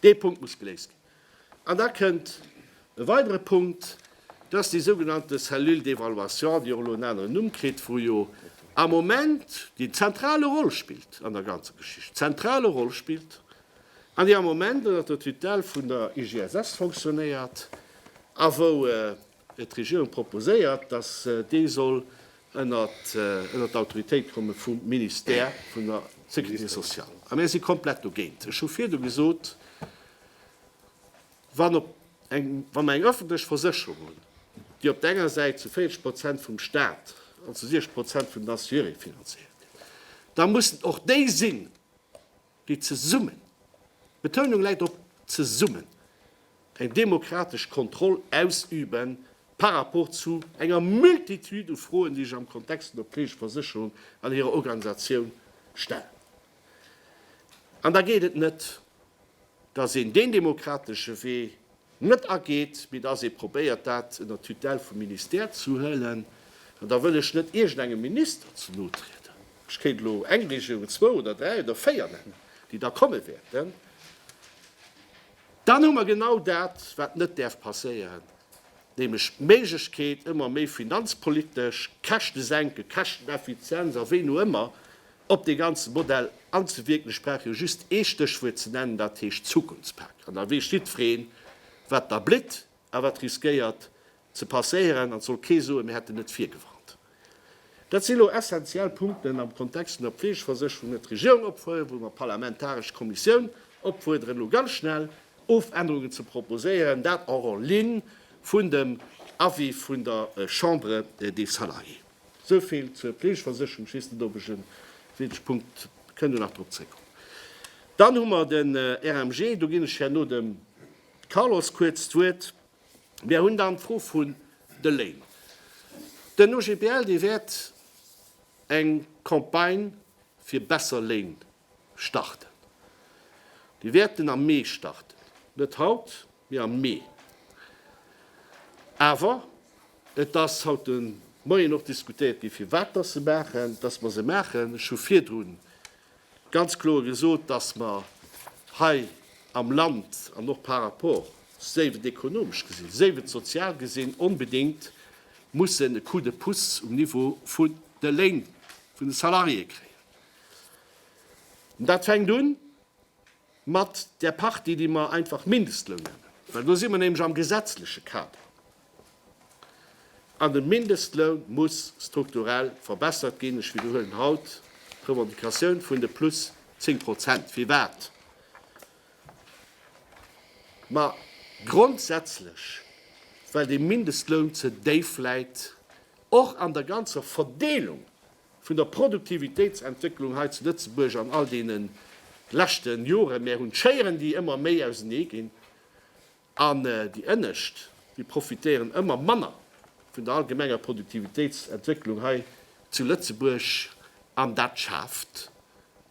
Dee Punkt muss geléist ginn. An da kënnt e weidere Punkt, dat ass déi sougenannte Cellule d'évaluation, déi och elo en aneren Numm kritt, wou jo am Moment déi zentrale Roll spillt an der ganzer Geschicht, zentrale Roll spillt, an déi am Moment ënnert der Tutelle vun der IGSS fonctionnéiert a wou, D'Regierung proposéiert, datt dee soll ënnert d'Autoritéit komme vum Ministère vun der Sécurité sociale. A mir si komplett dogéint. Ech hu virdu gesot, Wann mer eng öffentlech Versécherung hunn, déi op der enger Säit zu 40 Prozent vum Stat an zu 60 Prozent vun den Assuréeë finanzéiert gëtt, da mussen och déi sinn, déi zesummen, d'Betounung läit op zesummen, eng demokratesch Kontroll ausüben par rapport zu enger Multitude u Froen, déi sech am Kontext vun der betrieblicher Versécherung an hirer Organisatioun stellen. An da geet et net, dass een deen demokratesche Wee net ageet, mee dass ee probéiert, dat ënner d'Tutelle vum Ministère ze huelen. An da wëll ech net iergendengem Minister ze no trieden. Ech kéint elo eng Regierung, zwou oder dräi oder véier nennen, déi da komme wäerten. Dann hu mer genau dat, wat net däerf passéieren, nämlech d'Méiglechkeet, ëmmer méi finanzpolitesch, Käschtesenken, Käschteneffizienz a wéini ëmmer, Op dee ganze Modell anzewierken, ech brauch jo just ee Stéchwuert ze nennen, dat heescht Zukunftspak. An da weess jiddwereen, wat da blitt a wat riskéiert ze passéieren. An et soll kee soen, mir hätten net virgewarnt. Dat si lo essentiell Punkten am Kontext vun der Fleegeversécherung, wou d'Regierung opfuerdert, wou mer d'parlamentaresch Kommissioun opfuerderen, elo ganz schnell Ofännerungen ze proposéieren, dat auch en ligne vun dem Avis vun der Chambre des Salariés. Esou vill zur Fleegeversécherung. Ech weess net, ob ech e wichtege Punkt, mir kënnen nach drop zréckkommen. Dann hu mer de RMG. Do ginn ech herno dem Carlos kuerz d'Wuert. Mir hunn dann d'Fro vun de Léin. Den OGBL, dee wäert eng Campagne fir besser Léin starten. Mir wäerten am Mee starten. Net haut, mee am Mee. Awer et ass haut de Moien och diskutéiert ginn, firwat dass se maachen, dass mer se maachen. Ech hu virdru ganz kloer gesot, dass mer hei am Land an och par rapport, séif et ekonomesch gesinn, séif et sozial gesinn, onbedéngt mussen e Coup de pouce um Niveau vun de Léin, vun de Salariéë kréien. Dat fänkt un mat där Partie, déi mer einfach Mindestloun nennen, well do si mer nämlech am gesetzleche Kader. An de Mindestloun muss strukturell verbessert ginn. Ech widderhuelen haut d'Revendicatioun vun de plus zéng Prozent. Firwat? Ma grondsätzlech, well de Mindestloun ze déif läit, och an der ganzer Verdeelung Vun der Produktivitéitsentwécklung hei zu Lëtzebuerg an all deene leschte Joren, mär hunn d'Schéieren, déi ëmmer méi ausenee ginn, an déi ënnescht, déi profitéieren ëmmer manner vun der allgemenger Produktivitéitsentwécklung hei zu Lëtzebuerg, an dat schaaft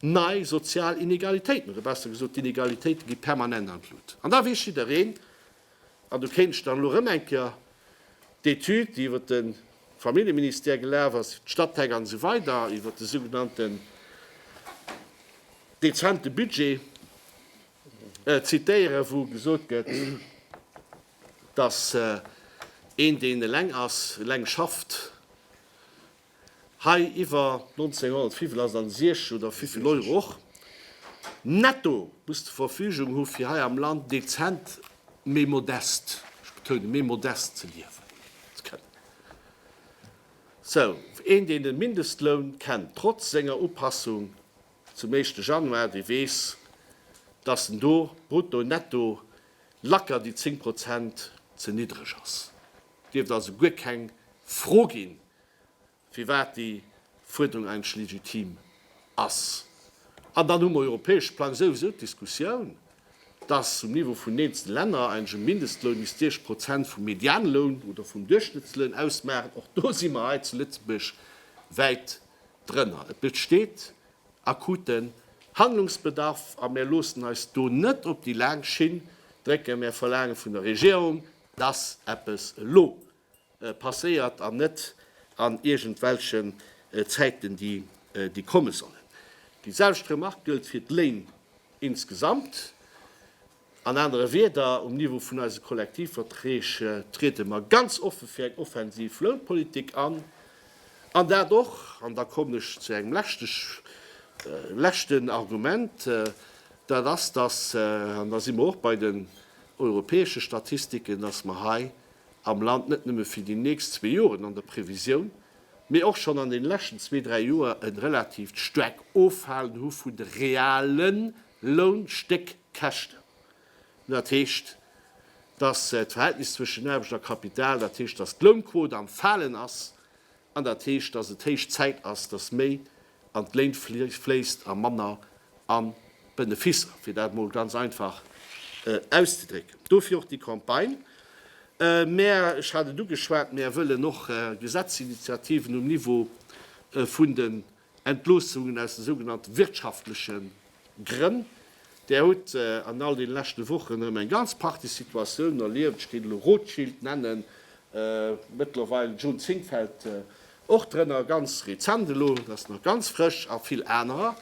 nei sozial Inegalitéiten, oder besser gesot, d'Inegalitéite gi permanent an d'Lut. An da weess jiddereen, An do kéint ech dann elo erëm eng Kéier d'Etüd, déi iwwer de Familljeministère gelaf ass, d'Stadtteile an esou weider, iwwer de sougenannten dezente Budget zitéieren, wou gesot gëtt, dass een, deen eleng ass, eleng schafft, Hei iwwer 1905 lass an 16 oder vivill Euro och netto muss zur Verfügung hu fir hei am Land dezent, mee modest, ech betounen, mee modest ze liewen ze kënnen. Sou een deen de Mindestloun kennt, trotz senger Upassung zum éischte Januar, dee weess, datt en do brutto, netto lacker déi 10 Prozent ze niddreg ass. Dierft also guer keng Fro ginn, firwat déi Fuerderung eigentlech legitim ass. An dann hu mer um europäesche Plang souwisou d'Diskussioun, dass um Niveau vun den eenzelne Länner eigentlech e Mindestloun misst 30 Prozent vum Medianloun oder vum Duerchschnëttsloun ausmaachen. Och do si mer hei zu Lëtzebuerg wäit drënner. Et besteet akuten Handlungsbedarf a mir loossen eis do net op déi laang Schinn drécken. Mir verlaange vun der Regierung, dass eppes elo passéiert an net an iergendwelchen Zäiten déi komme sollen. Déi selwecht Remark gëllt fir d'Léin insgesamt. An anere Wieder, um Niveau vun eise Kollektivverträg triede mer ganz offe fir eng offensiv Lounpolitik an, an dat och, an da kommen ech zu engem leschten Argument, dat ass, dass, an da si mer och bei den europäesche Statistiken, dass mer hei am Land net nëmme fir déi nächst zwee Joren an der Previsioun, mee och schonn an den leschten zwee, dräi Joer e relativt staark Offalen hu vun de realen Lounstéckkäschten. Dat heescht, dass d'Verhältnis zwëschen Aarbecht a Kapital, dat heescht, dass d'Lounquot am Falen ass, An dat heescht, dass et héich Zäit ass, dass méi an d'Léin fléisst a manner an d'Benefisser, fir dat emol ganz einfach auszedrécken. Dofir och déi Campagne. Mä, ech hat et ugeschwat, Mär wëllen och Gesetzesinitiativen um Niveau vun de Entloossungen aus de sougenannte wirtschaftleche Grënn. Där huet an all deene leschte Wochen erëm eng ganz Partie Situatiounen erlieft. Ech kéint elo Rothschild nennen, mëttlerweil June Zink fält och drënner, ganz rezent elo, dat ass nach ganz frësch, a vill anerer,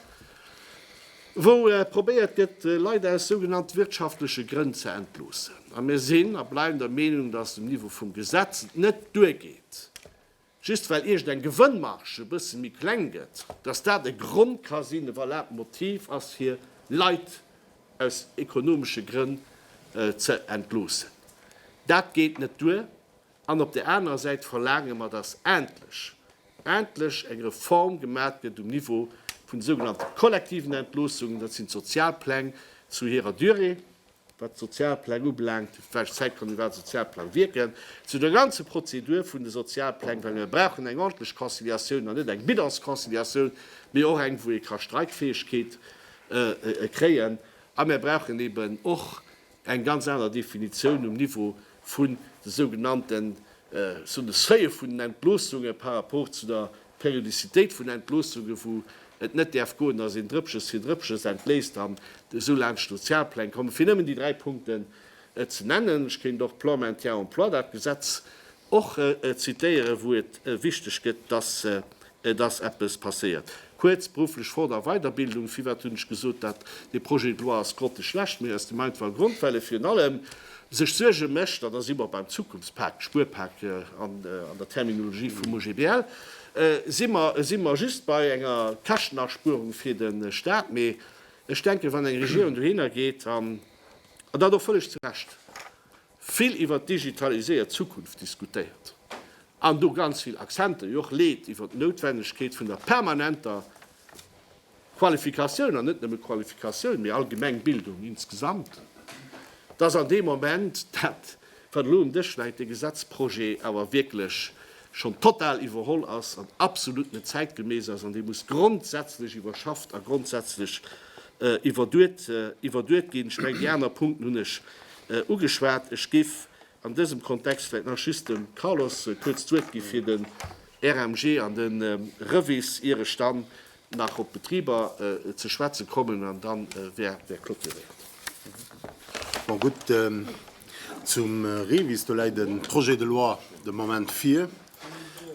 wou probéiert gëtt, Leit aus sougenannte wirtschaftleche Grënn ze entloossen. A mir sinn a bleiwen der Meenung, datt um Niveau vum Gesetz et net duergeet, Just well iergendeng Gewënnmarge e bësse méi kleng gëtt, dass dat e Grond ka sinn, e valabelt Motiv ass, fir Leit aus ekonomesche Grënn ze entloossen, dat geet net duer. An op där anerer Säit verlaange mer, dass endlech, endlech eng Reform gemat gëtt um Niveau vun de sougenannte kollektiven Entloossungen, dat sinn d'Sozialpläng zu hirer Durée, wat d'Sozialpläng ubelaangt, fir d'Frage Zeit kann iwwerhaapt e Sozialplang wierken, zu der ganze Prozedur vun de Sozialpläng, well mer brauchen eng ordentlech Conciliatioun an net eng Bidonsconciliatioun, mee och eng, wou ee ka Streikfäegkeet kréien. A mer brauchen eeben och eng ganz aner Definitioun um Niveau vun de sougenannten, ech soen, Seuile vun den Entloossunge par rapport zu der D'Periodizitéit vun Entloossunge wou et net däerf goen, datt een Drëppches fir Drëppches entléisst an esou laanscht d'Sozialpläng kommen, fir nëmmen déi dräi Punkten ze nennen. Ech kéint och Plan Maintien en Emploi, dat Gesetz och zitéieren, wou et wichteg gëtt, datt datt eppes passéiert. Kuerz, berufflech Fort a Weiderbildung, firwat hunn ech gesot, dat dee Projet de loi ass grotteschlecht? Mee aus dem einfache Grond, well e virun allem sech Suerge mécht, an da si mer beim Zukunftspak, Spuerpak an der Terminologie vum OGBL, si mer si mer just bei enger Käschtenaspuerung fir de Stat. Mee ech denken, wann eng Regierung dohinner geet an an dat och vëlleg zu Recht vill iwwert d'digitaliséiert Zukunft diskutéiert an do ganz vill Accenter jo och leet iwwert d'Noutwendegkeet vun der permanenter Qualifikatioun, an net nëmme Qualifikatioun, mee allgemeng Bildung insgesamt, dass an deem Moment dat, wat elo um Dësch läit, dee Gesetzprojet awer wierklech schonn total iwwerholl ass an absolut net zäitgemäss ass an dee muss grondsätzlech iwwerschafft a grondsätzlech iwwerduet ginn. Ech mengen, déi aner Punkten hunn ech ugeschwat. Ech géif An dësem Kontext vläit nach just dem Carlos kuerz d'Wuert gi fir den RMG an den REVIS, ier ech dann nach op d'Betriber ze schwätze kommen an dann wär clôturéiert. Bon, gutt, zum REVIS, do läit e Projet de loi de Moment vir.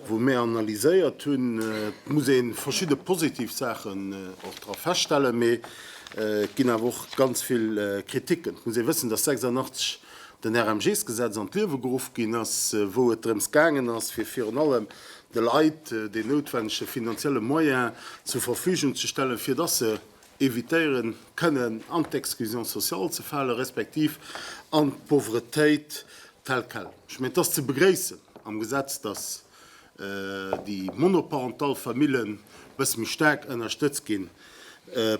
wou mir analyséiert hunn, et muss ee verschidde positiv Saachen och dra feststellen, mee et ginn awer och ganz vill Kriticken. Et muss ee wëssen, datt 86 den RMGs-Gesetz an d'Liewe geruff ginn ass, wou et drëms gaangen ass, fir virun allem de Leit deen noutwennege finanzielle Moyen zur Verfügung ze stellen, fir datt se evitéieren kënnen an d'Exclusion sociale ze falen, respektiv an d'Pauvretéit telle quelle. Ech mengen, et ass ze begréissen am Gesetz, dass déi monoparental Famillen e bësse méi staark ënnerstëtzt ginn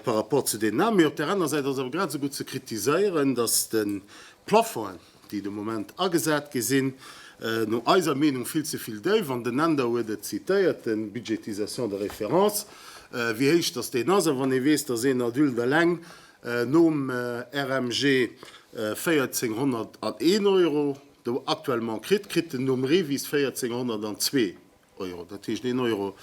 par rapport zu deenen aner. Mee op där aner Säit ass et awer grad esou gutt ze kritiséieren, dass de Plafongen, déi de Moment agesat gi sinn, no eiser Meenung vill ze vill déif an den Änder huet et zitéiert, de Budgétisation de référence, wéi héich datt deen ass. A wann ee weess, datt een Adulte eleng nom RMG 1401 Euro actuellement kritt, kritt en nom REVIS 1402. Euro. Dat heescht een Euro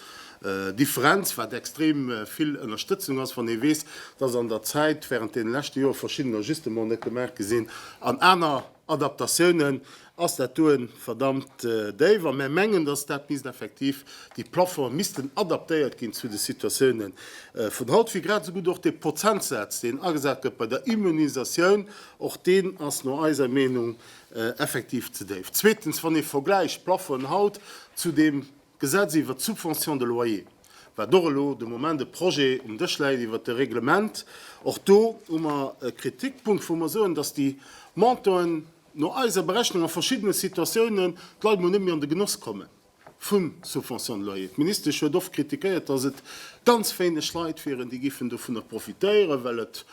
Differenz, wat extrem vill Ënnerstëtzung ass, wann ee weess, dass an der Zäit während deene leschte Joer verschidden Ajustemente gemaach gi sinn an aner Adaptatiounen, ass dat doe verdammt déif. A mär mengen, dass dat misst effektiv, déi Plaffonge missten adaptéiert ginn zu de Situatiounen vun haut, wéi grad esou gutt och dee Prozentsaz, deen agesat gëtt bei der Immunisatioun, och deen ass no eiser Meenung effektiv ze déif. Zweetens, wann ee vergläicht d'Plafonen haut zu deem Gesetz iwwert d'Subvention de loyer, wat och elo de Moment e Projet um Dësch läit iwwert e Reglement, och do hu mer e Kritikpunkt, wou mer soen, dass déi Montanten no eiser Berechnung a verschiddene Situatiounen d'Leit mol net méi an de Genoss kommen. Vum Subvention de loyer. D'Ministesch huet oft kritikéiert, datt et ganz wéineg Leit wieren, déi giffen dovunner profitéieren, well et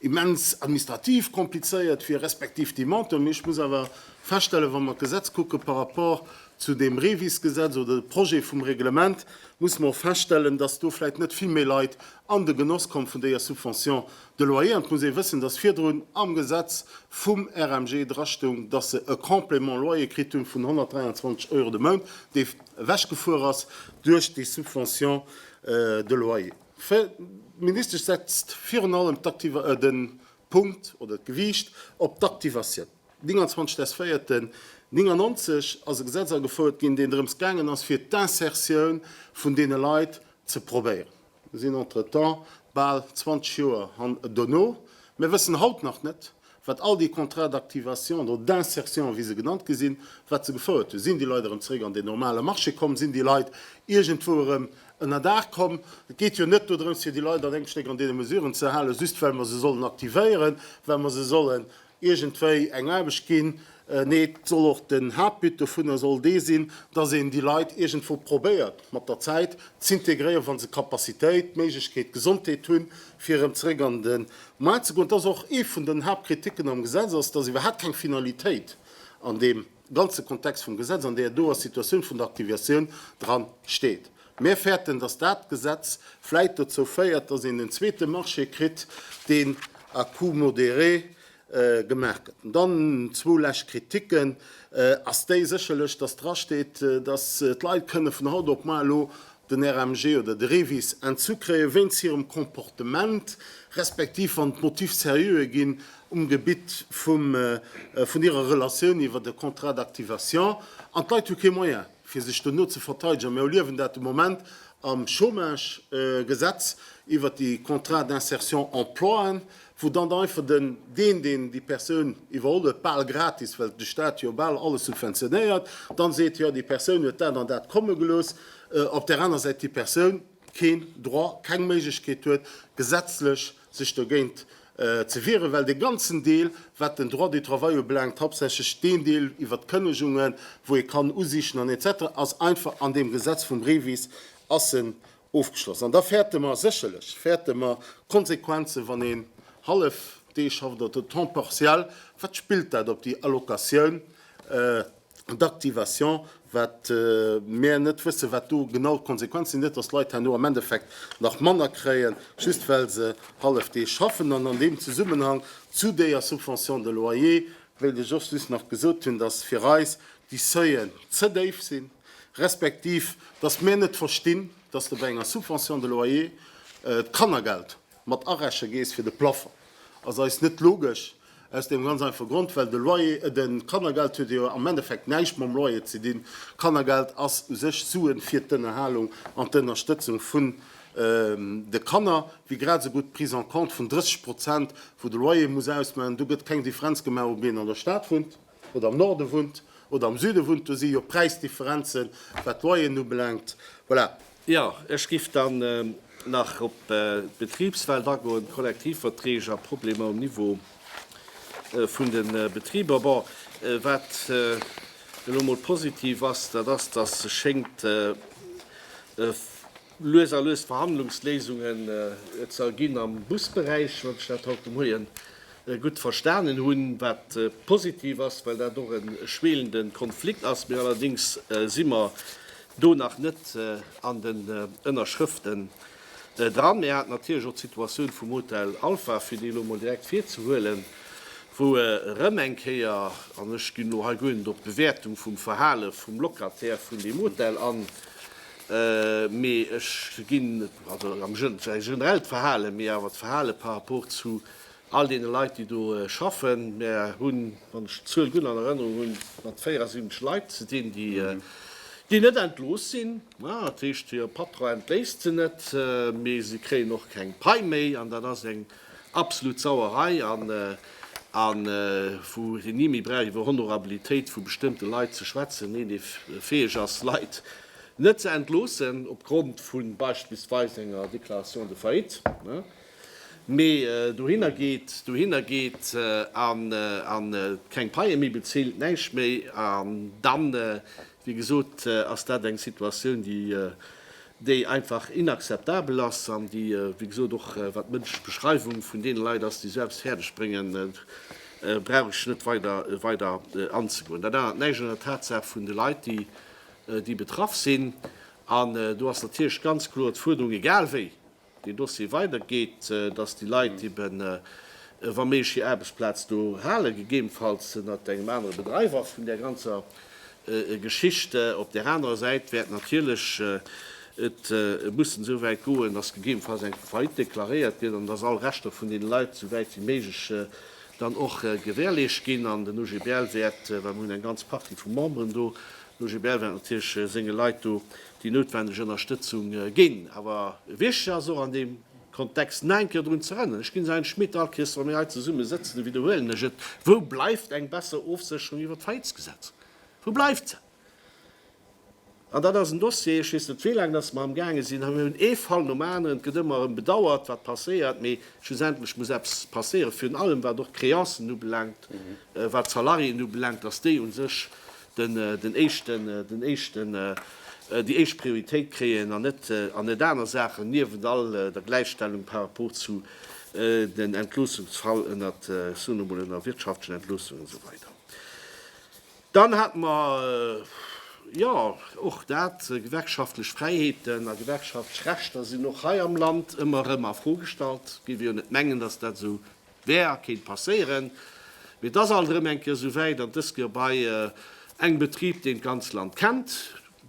immens administrativ komplizéiert wier, respektiv déi Monten. Mee ech muss awer feststellen, wa mer d'Gesetz kucke par rapport zu deem REVIS-Gesetz oder de Projet vum Reglement, musse mer och feststellen, datt do vläicht net vill méi Leit an de Genoss komme vun deeër Subvention De Loyer, an et muss ee wëssen, datt virdrun am Gesetz vum RMG drastoung, datt se e Complément loyer kritt hunn vun 123 Euro de Mount, dee ewechgefuer ass duerch déi Subvention de loyer. D'Ministesch setzt virun allem de Punkt oder d'Gewiicht op d'Aktivatioun. 29 des. 4. 1999 ass e Gesetz agefouert ginn, deen drëms gaangen ass, fir d'Insertioun vun deene Leit ze probéieren. sinn entretemps bal 20 Joer han dono, mir wëssen haut nach net, wat all déi Contrats d'activation oder d'insertion, wéi se genannt gi sinn, wat se gefouert hunn. Sinn déi Leit erëm zeréck an den normale Marché komm? Sinn déi Leit iergendwou erëm ënnerdaach komm? Et geet jo net dodrëms, fir déi Leit an engem Stéck an deene Mesuren ze halen, just well mer se sollen aktivéieren, well mer se sollen iergendwéi eng Aarbecht ginn. Nee, et soll och, den Haaptbut dovunner soll dee sinn, dass een déi Leit iergendwou probéiert mat der Zäit z'integréieren, wa se Capacitéit, d'Méiglechkeet, d'Gesondheet hunn, fir erëm zeréck an de Maart ze goen. Dat ass och ee vun den Haaptkriticken am Gesetz, ass, dass iwwerhaapt keng Finalitéit an deem. ganze Kontext vum Gesetz, an där do ass, d'Situatioun vun der Aktiviatioun dran steet. Mär fäerten, dass dat Gesetz vläit dozou féiert, dass een en zweete Marché kritt, deen à coût modéré gemaach gëtt. An dann zwou lescht Kritiken, ass déi sécherlech, dass drasteet, dass d'Leit kënne vun haut op muar elo den RMG oder de REVIS entzu kréien, wéinst hirem Comportement, respektiv wann d'Motiv sérieuxer ginn um Gebitt vum, vun hirer Relatioun iwwert e Contrat d'activation. An d'Leit hu kee Moyen, fir sech dono ze verteidegen. Mir erliewen dat de Moment am Chômage, Gesetz iwwert déi Contrats d'insertion emploien, wou dann einfach den, deen, deen déi Persoun iwwerholl huet, bal gratis, well de Stat jo bal alles subventionéiert, dann seet, jo, déi Persoun huet dat an dat komme gelooss, op där aner Säit déi Persoun keen Droit, keng Méiglechkeet huet, gesetzlech sech dogéint ze wieren, well dee ganzen Deel, wat den Droit du travail ubelaangt, hauptsächlech deen Deel iwwert d'Kënnegungen, wou ee kann usichen an etc, ass einfach an deem Gesetz vum Brevis ass en Ofgeschloss. An da fäerte mer, sécherlech fäerte mer d'Konsequenzen, wann een hallef Dee schafft oder de Temps partiel, wat spillt dat op déi Allocation d'activation, wat mär net wëssen, wat do genau d'Konsequenzen sinn. Net datt d'Leit herno am Endeffekt nach manner kréien, just well se hallef Dee schaffen. An an deem Zesummenhang zu deeër Subvention de loyer wéilt ech och just nach gesot hunn, datt fir eis déi Seuillen ze déif sinn. respektiv dass mir net verstinn, dass de bei enger Subvention de loyer d'Kannergeld mat areche gees fir de Plafond, ass eis net logesch, aus deem ganz einfache Grond, well de Loyer, de Kannergeld huet jo am Endeffekt näischt mam Loyer ze dinn. Kannergeld ass u sech Suen fir d'Ënnerhalung an d'Ënnerstëtzung vun de Kanner, wéi grad esou gutt d'Prise en compte vun 30 Prozent, wou de Loyer muss ausmaachen. Do gëtt keng Differenz gemaach, ob een an der Stad wunnt. oder am Norde wunnt oder am Süde wunnt, do si jo Präisdifferenzen, wat d'Loyeren ubelaangt. Voilà. Jo, ech giff dann nach op d'Betribswelt agoen, Kollektivverträg a Problemer um Niveau vun de Betriber. Bon, wat elo mol positiv ass, dat ass, dass sech schéngt, lues a lues Verhandlungsléisunge ze erginn am Busberäich, wann ech dat haut de Moien gutt verstanen hunn, wat positiv ass, well dat och e schweelende Konflikt ass. Mee allerdéngs si mer do nach net an den Ënnerschrëften dran. Mir haten natierlech och d'Situatioun vum Hotel Alpha, fir déi elo emol direkt virzehuelen, wou erëm eng Kéier, an ech ginn elo hei guer net op d'Bewäertung vum Verhale vum Locataire vun deem Hotel an, Mee ech ginn, also am Jeu, zwar e generellt Verhalen, mee awer d'Verhalen par rapport zu all deene Leit, déi do schaffen. Mär hunn, wann ech d'Zuel gutt an Erënnerung hunn, mat 74 Leit ze dinn, déi net entlooss sinn. Dat heescht, hire Patron entléisst se net, mee se kréien och keng Pai méi. An dat ass eng. Absolut Sauerei an wou een ni méi brauch iwwer Honorabilitéit vu bestëmmte Leit ze schwätzen, een dee fäeg ass Leit net ze entloossen op Grond vu beispillsweis enger Déclaration de faillite, mee dohinner geet, dohinner geet a keng Paie méi bezilt, näischt méi an dann Wéi gesot ass dat eng Situatioun, déi, déi einfach inakzeptabel ass an déi, wéi gesot, och wat d'mënschlech Beschreiwung vun deene Leit ass, déi Service fäerdeg bréngen, brauch ech net weider, weider anzegoen. Dat ännert näischt un der Tatsaach vun de Leit, déi, déi betraff sinn. An do ass natierlech ganz kloer d'Fuerderung, egal wéi, deen Dossier weider geet, dass déi Leit eben, wa méiglech, hir Aarbechtsplaz do halen, gegebenfalls ënnert engem anere Bedreiwer vun där ganzer Geschicht. Op där anerer Säit wäert natierlech et mussen esou wäit goen, dass gegebenfalls eng Faillite deklaréiert gëtt an dass all Rechter vun deene Leit esou wäit wéi méiglech dann och gewährleescht ginn. An den OGBL wäert, well mer hunn eng ganz Partie vu Memberen do, den OGBL wäert natierlech senge Leit do Déi noutwendeg Ënnerstëtzung ginn awer wichteg ass och an deem Kontext nach eng Kéier drun z'erënneren, ech ginn se Herrn Schmit all Chris, wa mir hei zesumme sëtzen, a widderhuelen ech et, Wou bleift eng besser Ofsécherung iwwer d'Faillitesgesetz? Wou bleift se? An dat ass en Dossier, ech weess net wéi laang datt mer amgaange sinn, mir hunn ee Fall nom aneren, et gëtt ëmmer erëm bedauert, wat passéiert, mee schlussendlech muss eppes passéieren, virun allem wat och d'Créancen ubelaangt, wat d'Salariéen ubelaangt, datt déi u sech den éischten, den éischten, déi éischt Prioritéit kréien an net, an net aner Saachen, niewent all der Gläichstellung par rapport zu den Entloossungsfall ënnert, ech soen emol, ënner wirtschaftlechen Entloossungen esou weider. Dann hate mer, jo, och dat, gewerkschaftlech Fräiheeten a gewerkschaftlech Rechter sinn och hei am Land ëmmer erëm a Fro gestallt, géif ee jo net mengen, datt dat esou Wär kéint passéieren, mee et ass alt erëm eng Kéier esouwäit, an et ass geu bei engem Betrib, deen d'ganz Land kennt,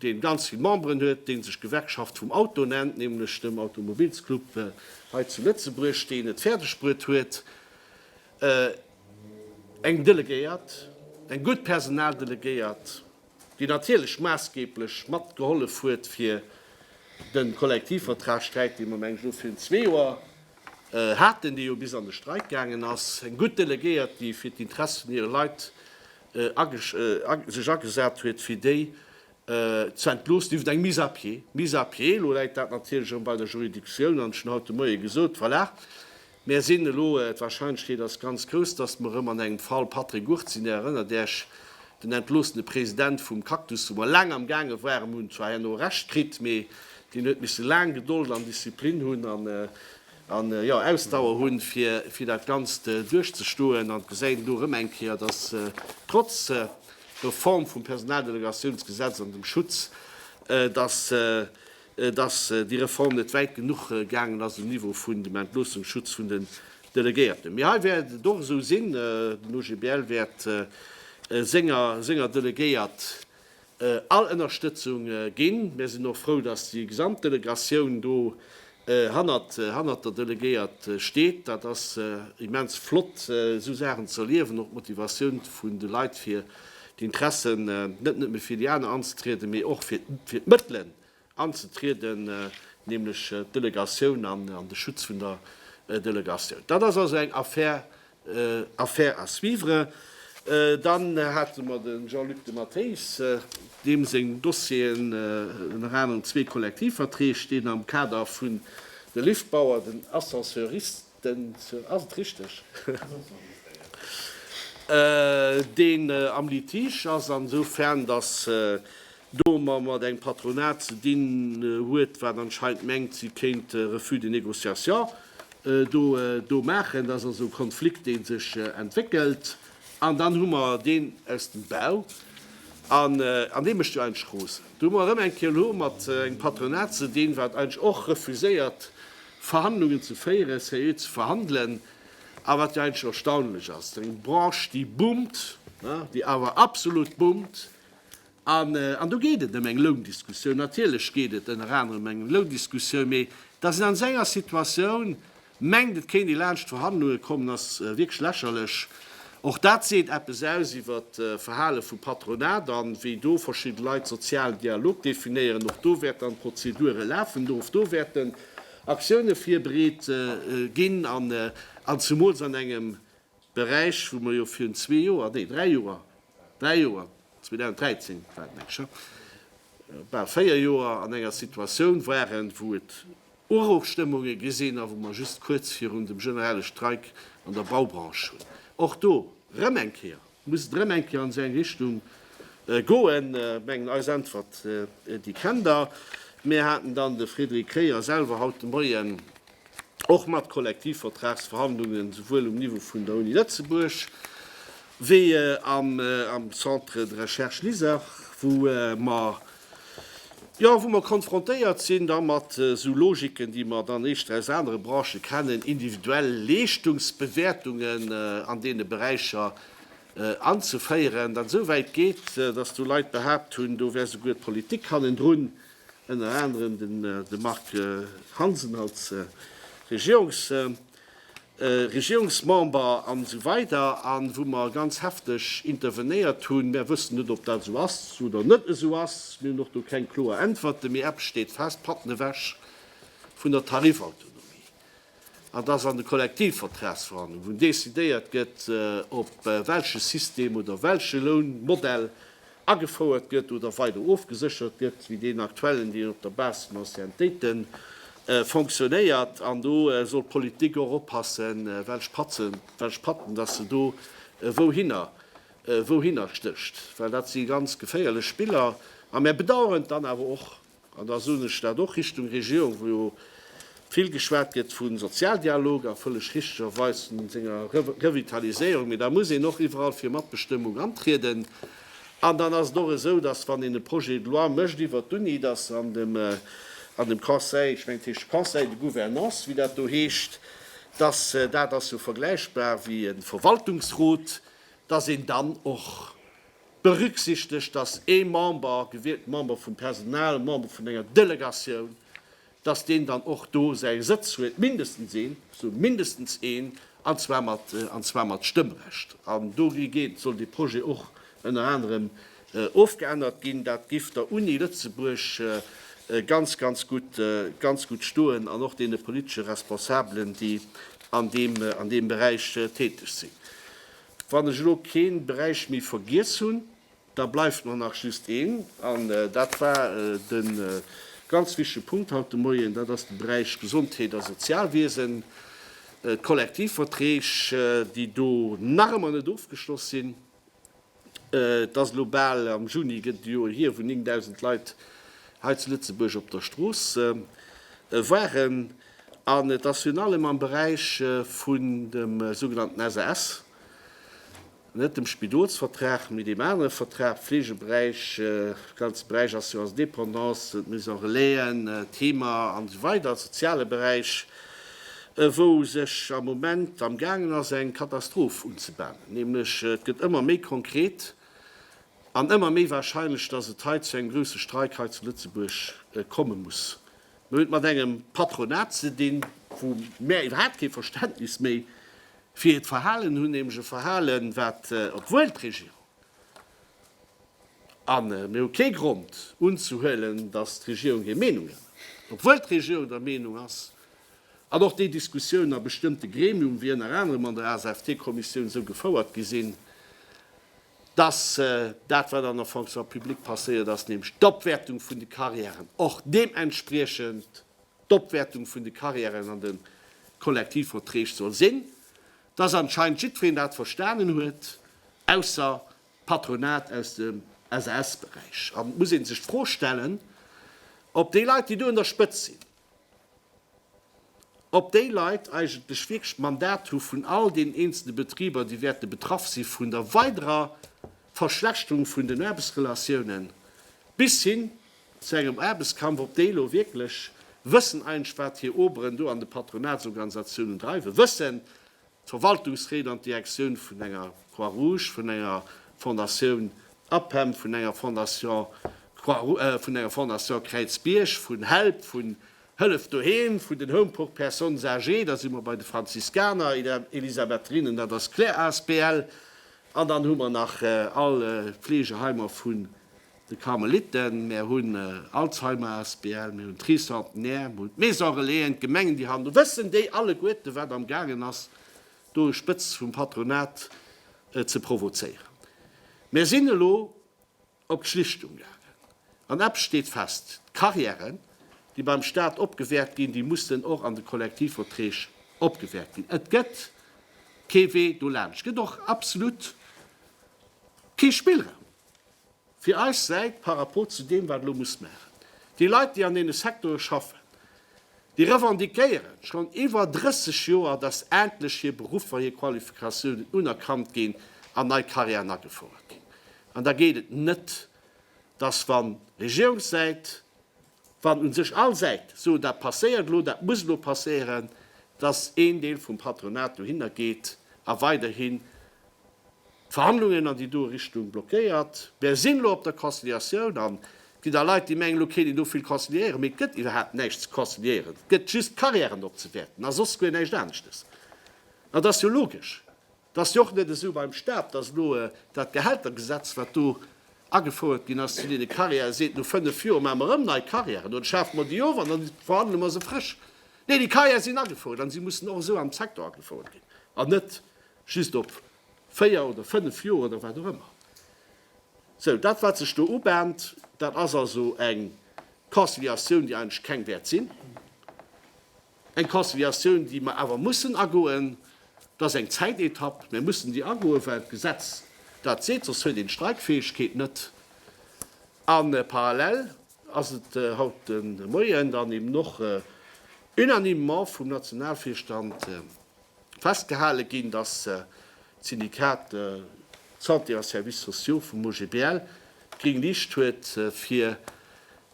dee ganz vill Memberen huet, dee sech Gewerkschaft vum Auto nennt, nämlech dem Automobilsclub hei zu Lëtzebuerg, deen et fäerdeg bruet huet, eng Delegéiert, eng gutt Personaldelegéiert, déi natierlech maassgeeblech mat gehollef huet fir de Kollektivvertragsträit, dee mer mengen ech elo virun zwee Joer haten, dee jo bis an de Streik gaangen ass, eng gutt Delegéiert, déi fir d'Interesse vun hire Leit sech agesat huet, fir déi ze entloossen iwwer eng Mise à pied. Mise à pied, elo läit dat natierlech erëm bei der Juridiktioun, an ech hunn haut de Moie gesot, voilà, Mär sinn elo, d'Warscheinlechkeet ass ganz grouss, dass mer erëm an engem Fall Patrick Gurt sinn. Där erënnert Äerch, den entloossene President vum Cactus, wou mer laang am gaange waren, hunn zwar herno Recht kritt, mee deen huet misse laang Gedold an Disziplin hunn an, jo, an Ausdauer hunn, fir, fir dat Ganzt duerchzestoen. An et gesäit een elo erëm eng Kéier, dass trotz Reform vum Personaldelegatiounsgesetz an dem Schutz, dass dass déi Reform net wäit genuch gaangen ass um Niveau vun dem Entloossungsschutz vun den Delegéierten. Mee hei wäert et och esou sinn, Den OGBL wäert senger, senger Delegéiert all Ënnerstëtzung ginn. Mär sinn och frou, dass déi gesamt Delegatioun do hannert, hannert der Delegéiert steet. Dat ass immens flott, esou Saachen ze erliewen, och d'Motivatioun vun de Leit fir d'Interessen net nëmme fir déi aner anzetrieden, mee och fir d'Mëttelen anzetrieden, nämlech d'Delegatioun an de Schutz vun der Delegatioun. Dat ass also eng Affaire à suivre. Dann hate mer de Jean-Luc de Matteis, deem seng Dossieren, ënner anerem zwee Kollektivverträg, deen am Kader vun de Liftbauer, den Ascenseuristen, deen am Litige ass, an esoufern dass do mer mat engem Patronat ze dinn huet, wat anscheinend mengt, si kéint e Refus de négociation do maachen. Dat ass also e Konflikt, dee sech entwéckelt. An dann hu mer deen aus dem Bau, an dee mécht jo eigentlech Roosen. Do hu mer erëm eng Kéier elo mat engem Patronat ze dinn, wat eigentlech och refuséiert, Verhandlungen ze féieren, seriö ze verhandelen, a wat jo eigentlech erstaunlech ass, eng Branche, déi boomt, déi awer absolut boomt, an do geet et ëm eng Loundiskussioun, natierlech geet et ënner anerem ëm eng Loundiskussioun, mee dass een an esou enger Situatioun mengt, et kéint ee laanscht d'Verhandlunge kommen, ass wierklech lächerlech. Och dat seet eppes aus iwwert d'Verhale vum Patronat a wéi do verschidde Leit sozialen Dialog definéieren. Och do wäert dann d'Prozedure lafen. Och do wäerten Aktioune virbereet ginn, an zemools an engem Beräich, wou mer jo virun zwee Joer, nee dräi Joer, dräi Joer, 2013 war et meng ech, bal véier Joer an enger Situatioun waren, wou et Uruchstëmmunge gesinn a wou mer just kuerz virun dem generelle Streik an der Baubranche hunn. Och do rëm eng Kéier, muss et rëm eng Kéier an esou eng Richtung goen. Ech mengen, eis Äntwert, déi kennt Der. Mir haten dann de Frédéric Kreyer selwer haut de Moien och mat Kollektivvertragsverhandlungen, souwuel um Niveau vun der Uni Lëtzebuerg wéi am Centre de Recherche LISER, wou mer Jo, wou mer konfrontéiert sinn da mat esou Logiken, déi mer dann éischter aus anere Branchen kennen, individuell Leeschtungsbewäertungen an deene Beräicher anzeféieren, dat esou wäit geet, dass do Leit behaapt hunn, do wär souguer d'Politik hannendrun, ënner anerem de Marc Hansen als Regierungsvertrieder. Regierungsmember an esou weider an wou mer ganz hefteg intervenéiert hunn. Mär wëssen net, ob dat esou ass oder net esou ass. Mir hunn och do keng kloer Äntwerte. Mee eppes steet fest, Patten ewech vun der Tarifautonomie. An dass an de Kollektivvertragsverhandlungen, wou decidéiert gëtt, op welche System oder welche Lounmodell agefouert gëtt oder weider ofgeséchert gëtt, wéi deen aktuellen, deen op der Base vun Anciennetéiten fonctionnéiert. An do soll d'Politik och oppassen, welch Patzen, welch Patten dass se do wouhinner, wouhinner stécht, well dat si ganz geféierlech Spiller. A mär bedauern dann awer och, An da soen ech dat och Richtung Regierung, wou jo vill geschwat gëtt vu Sozialdialog a vëlleg richtegerweis vun senger Revitaliséierung, mee da muss een och iwwerall fir Matbestëmmung antrieden. An dann ass et och esou, dass, wann een e Projet de loi mécht iwwert d'Uni, dass an dem, an dem Conseil, ech mengen et heescht Conseil de gouvernance, wéi dat do heescht, dass, dat ass jo vergläichbar wéi e Verwaltungsrot, dass een dann och, berücksichtegt, dass ee Member, gewielten Member vum Personal, Member vun enger Delegatioun, dass deen dann och do säi Sëtz huet, mindestens een, ech soen mindestens een, an zwar mat, an zwar mat Stëmmrecht. An do geet, soll dee Projet och ënner anerem ofgeännert ginn. Dat giff der Uni Lëtzebuerg ganz, ganz gutt, ganz gutt stoen an och deene politesche Responsabelen, déi an deem, an deem Beräich täteg sinn. Wann ech elo kee Beräich méi vergiess hunn, da bleift mer nach just een, an dat war de ganz wichtege Punkt haut de Moien, dat ass de Beräich Gesondheet a Sozialwiesen, d'Kollektivverträg, déi do nach ëmmer net ofgeschloss sinn. Et ass elo bal, am Juni gëtt et e Joer hier, wou 9.000 Leit hei zu Lëtzebuerg op der Strooss waren. An et ass virun allem am Beräich vun dem sougenannten SAS, net dem Spidolsvertrag, mee deem anere Vertrag, Pflegeberäich, ganze Beräich Assurance dépendance, d'Maison relaisen, d'Heemer an esou weider, soziale Beräich, wou sech am Moment am gaangen ass eng Katastroph unzebanen, nämlech et gëtt ëmmer méi konkret an ëmmer méi wahrscheinlech, dass et hei zu engem grouse Streik hei zu Lëtzebuerg komme muss. Mir hunn et mat engem Patronat ze dinn, wou mär iwwerhaapt kee Verständnis méi fir hiert Verhalen hunn, nämlech e Verhalen, wat, obwuel d'Regierung, a mir hu kee Grond unzehuelen, datt d'Regierung hir Meenung ännert, obwuel d'Regierung der Meenung ass, an och déi Diskussiounen a bestëmmte Gremium, wéi ënner anerem an der ASFT-Kommissioun, esou gefouert gi sinn, Dass dat, wat an der Fonction publique passéiert ass, nämlech d'Opwäertung vun de Carrièren, och deementspriechend d'Opwäertung vun de Carrièren an de Kollektivverträg soll sinn, dass anscheinend jiddwereen dat verstanen huet, ausser d'Patronat aus dem SAS-Beräich. An et muss ee sech d'Fro stellen, ob déi Leit, déi do un der Spëtzt sinn, ob déi Leit eigentlech wierklech d'Mandat hu vun all deenen eenzelne Betriber, déi wäerte betraff si vun der weiderer Verschlechterung vun den Aarbechtsrelatiounen bis hin zu engem Aarbechtskampf, ob déi elo wierklech wëssen eigentlech, wat hir Oberen do an de Patronatsorganisatiounen dreiwen, wëssen, Verwaltungsréit an d'Direktioun vun enger Croix Rouge, vun enger Fondatioun APEM, vun enger Fondation vun enger Fondation Kräizbierg, vun help, vun Hëllef Doheem, vun den Home pour personnes âgées, da si mer bei de Franziskaner, Elisabetherinnen, dat ass Claire asbl, an dann hu mer nach all Fleegeheimer vu de Karmeliten, mär hunn Alzheimer asbl, mir hunn d'Tricentenaire, mir hunn d'Maison Relaisen, d'Gemengen déi han, do wëssen déi alleguerte wat am gaangen ass do e Spëtz vum Patronat ze provozéieren. Mär sinn elo op d'Schlichtung gaangen an eppes steet fest, d'Carrièren déi beim Staat opgewäert ginn, déi mussen och an de Kollektivverträg opgewäert ginn. Et gëtt kee Wee dolaanscht, et gëtt och absolut kee Spillraum. Fir eis Säit, par rapport zu deem, wat elo muss maachen, déi Leit, déi an deene Secteure schaffen, déi revendiquéieren schonn iwwer 30 Joer, dass endlech hir Beruffer, hir Qualifikatiounen unerkannt ginn an nei Carrièren agefouert ginn. An da geet et net, dass, wann Regierungssäit, wann u sech all Säite soen, dat passéiert elo, dat muss elo passéieren, dass een Deel vum Patronat dohinner geet a weiderhi D'Verhandlungen an déi do Richtung blockéiert. Mär sinn elo op der Conciliatioun an et ginn da Leit, déi mengen, elo kéint een do vill conciliéieren, mee et gëtt iwwerhaapt näischt ze conciliéieren. Et gëtt just d'Carrièren opzewäerten a soss guer näischt aneschtes. An et ass jo logesch, et ass jo och net esou beim Stat, datt elo dat Gehältergesetz, wat do agefouert ginn ass zu deene Carrièren, seet, no fënnef Joer maache mer erëm nei Carrièren oder schafe mer déi of an da verhandele mer se frësch. Nee, déi Carrièrë sinn agefouert an si mussen och esou am Secteur agefouert ginn an net Just op véier oder fënnef Joer oder wat och ëmmer. Sou, dat wat sech do ubahnt, dat ass also eng Conciliatioun, déi eigentlech keng wäert sinn, eng Conciliatioun, déi mer awer mussen agoen. Dat ass eng Zäitetapp, mir mussen déi agoen, well d'Gesetz dat seet, soss huet een d'Streikfäegkeet net. A parallel ass et haut de Moien dann eben och unanimement vum Nationalvirstand festgehale ginn, datt d'Syndikat Santé a Services sociaux vum OGBL gréng Licht huet, fir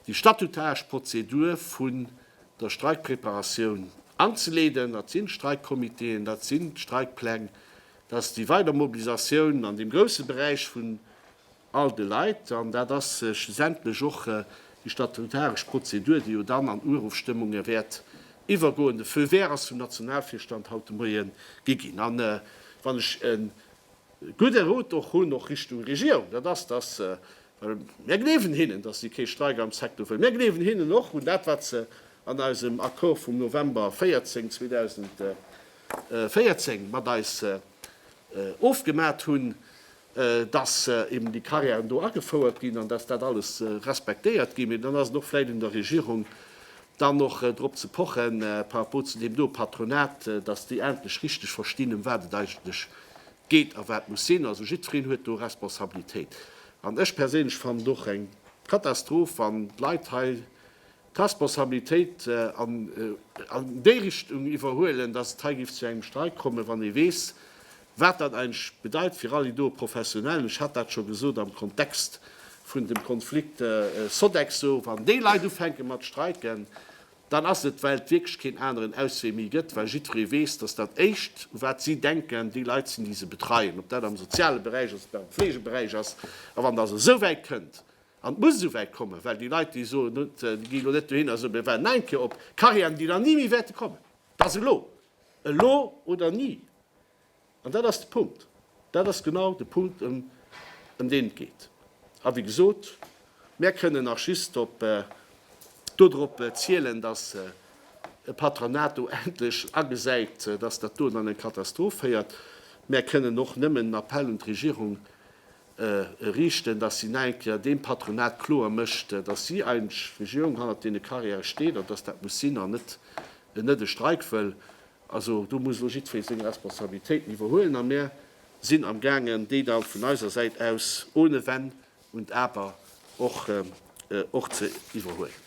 déi statutaresch Prozedur vun der Streikpreparatioun anzeleeden. Dat sinn d'Streikkomiteeën, dat sinn d'Streikpläng, dat ass déi weider Mobilisatioun an deem grousse Beräich vun all de Leit, an dat ass schlussendlech och déi statutaresch Prozedur, déi jo dann an Urofstëmmunge wäert iwwergoen. De Feu vert ass vum Nationalvirstand haut de Moie gi ginn. A wann ech e gudde Rot och hunn, och Richtung Regierung, dat ass, dass, well mir gleewen hinnen, dass si kee Streik am Secteur wëllen, mir gleewen hinnen och un dat, wat se an eisem Accord vum November 14, 2014 mat eis ofgemat hunn, dass eben déi Carrièren do agefouert ginn an dass dat alles respektéiert ginn. Mee dann ass et och vläicht un der Regierung, dann och drop ze poche par rapport zu deem doe Patronat, dass déi endlech richteg verstinn, ëm wat et eigentlech geet a wat muss sinn. Also jiddwereen huet do Responsabilitéit. An ech perséinlech fannen et och eng Katastroph, wann d'Leit hei d'Responsabilitéit an déi Richtung iwwerhuelen, dass et hei géif zu engem Streik kommen, wann ee weess, wat dat eigentlech bedeit fir all déi doe Professionellen. Ech hat dat scho gesot am Kontext vun dem Konflikt Sodexo. Wann déi Leit ufänke mat streiken, dann ass et, well et wierklech keen aneren Auswee méi gëtt, well jiddweree weess, dass dat Éischt, u wat si denken, déi Leit sinn, déi se betreien, ob dat am soziale Beräich ass, ob dat am Fleegeberäich ass. A wann dat esou wäit kënnt, An et muss esouwäit kommen, well déi Leit, déi soen, et geet elo net dohinner, esou, mir waarden nach eng Kéier op Carrièren, déi dann ni méi wäerte kommen. Dat ass elo. Elo oder ni. An dat ass de Punkt. Dat ass genau de Punkt, ëm deen et geet. A wéi gesot, mär kënnen nach just op dodrop zielen, dass e Patronat do endlech agesäit, dass dat do an eng Katastroph féiert. Mär kënnen och nëmmen en Appell un d'Regierung riichten, dass si nach eng Kéier deem Patronat kloer mécht, dass si eigentlech d'Regierung hannert deene Carrièrë steet an dass dat muss sinn an net en net e Streik wëll. Also do muss elo jiddweree seng Responsabilitéiten iwwerhuelen a mir sinn amgaangen, déi da vun eiser Säit aus ohne Wenn und Aber och och ze iwwerhuelen.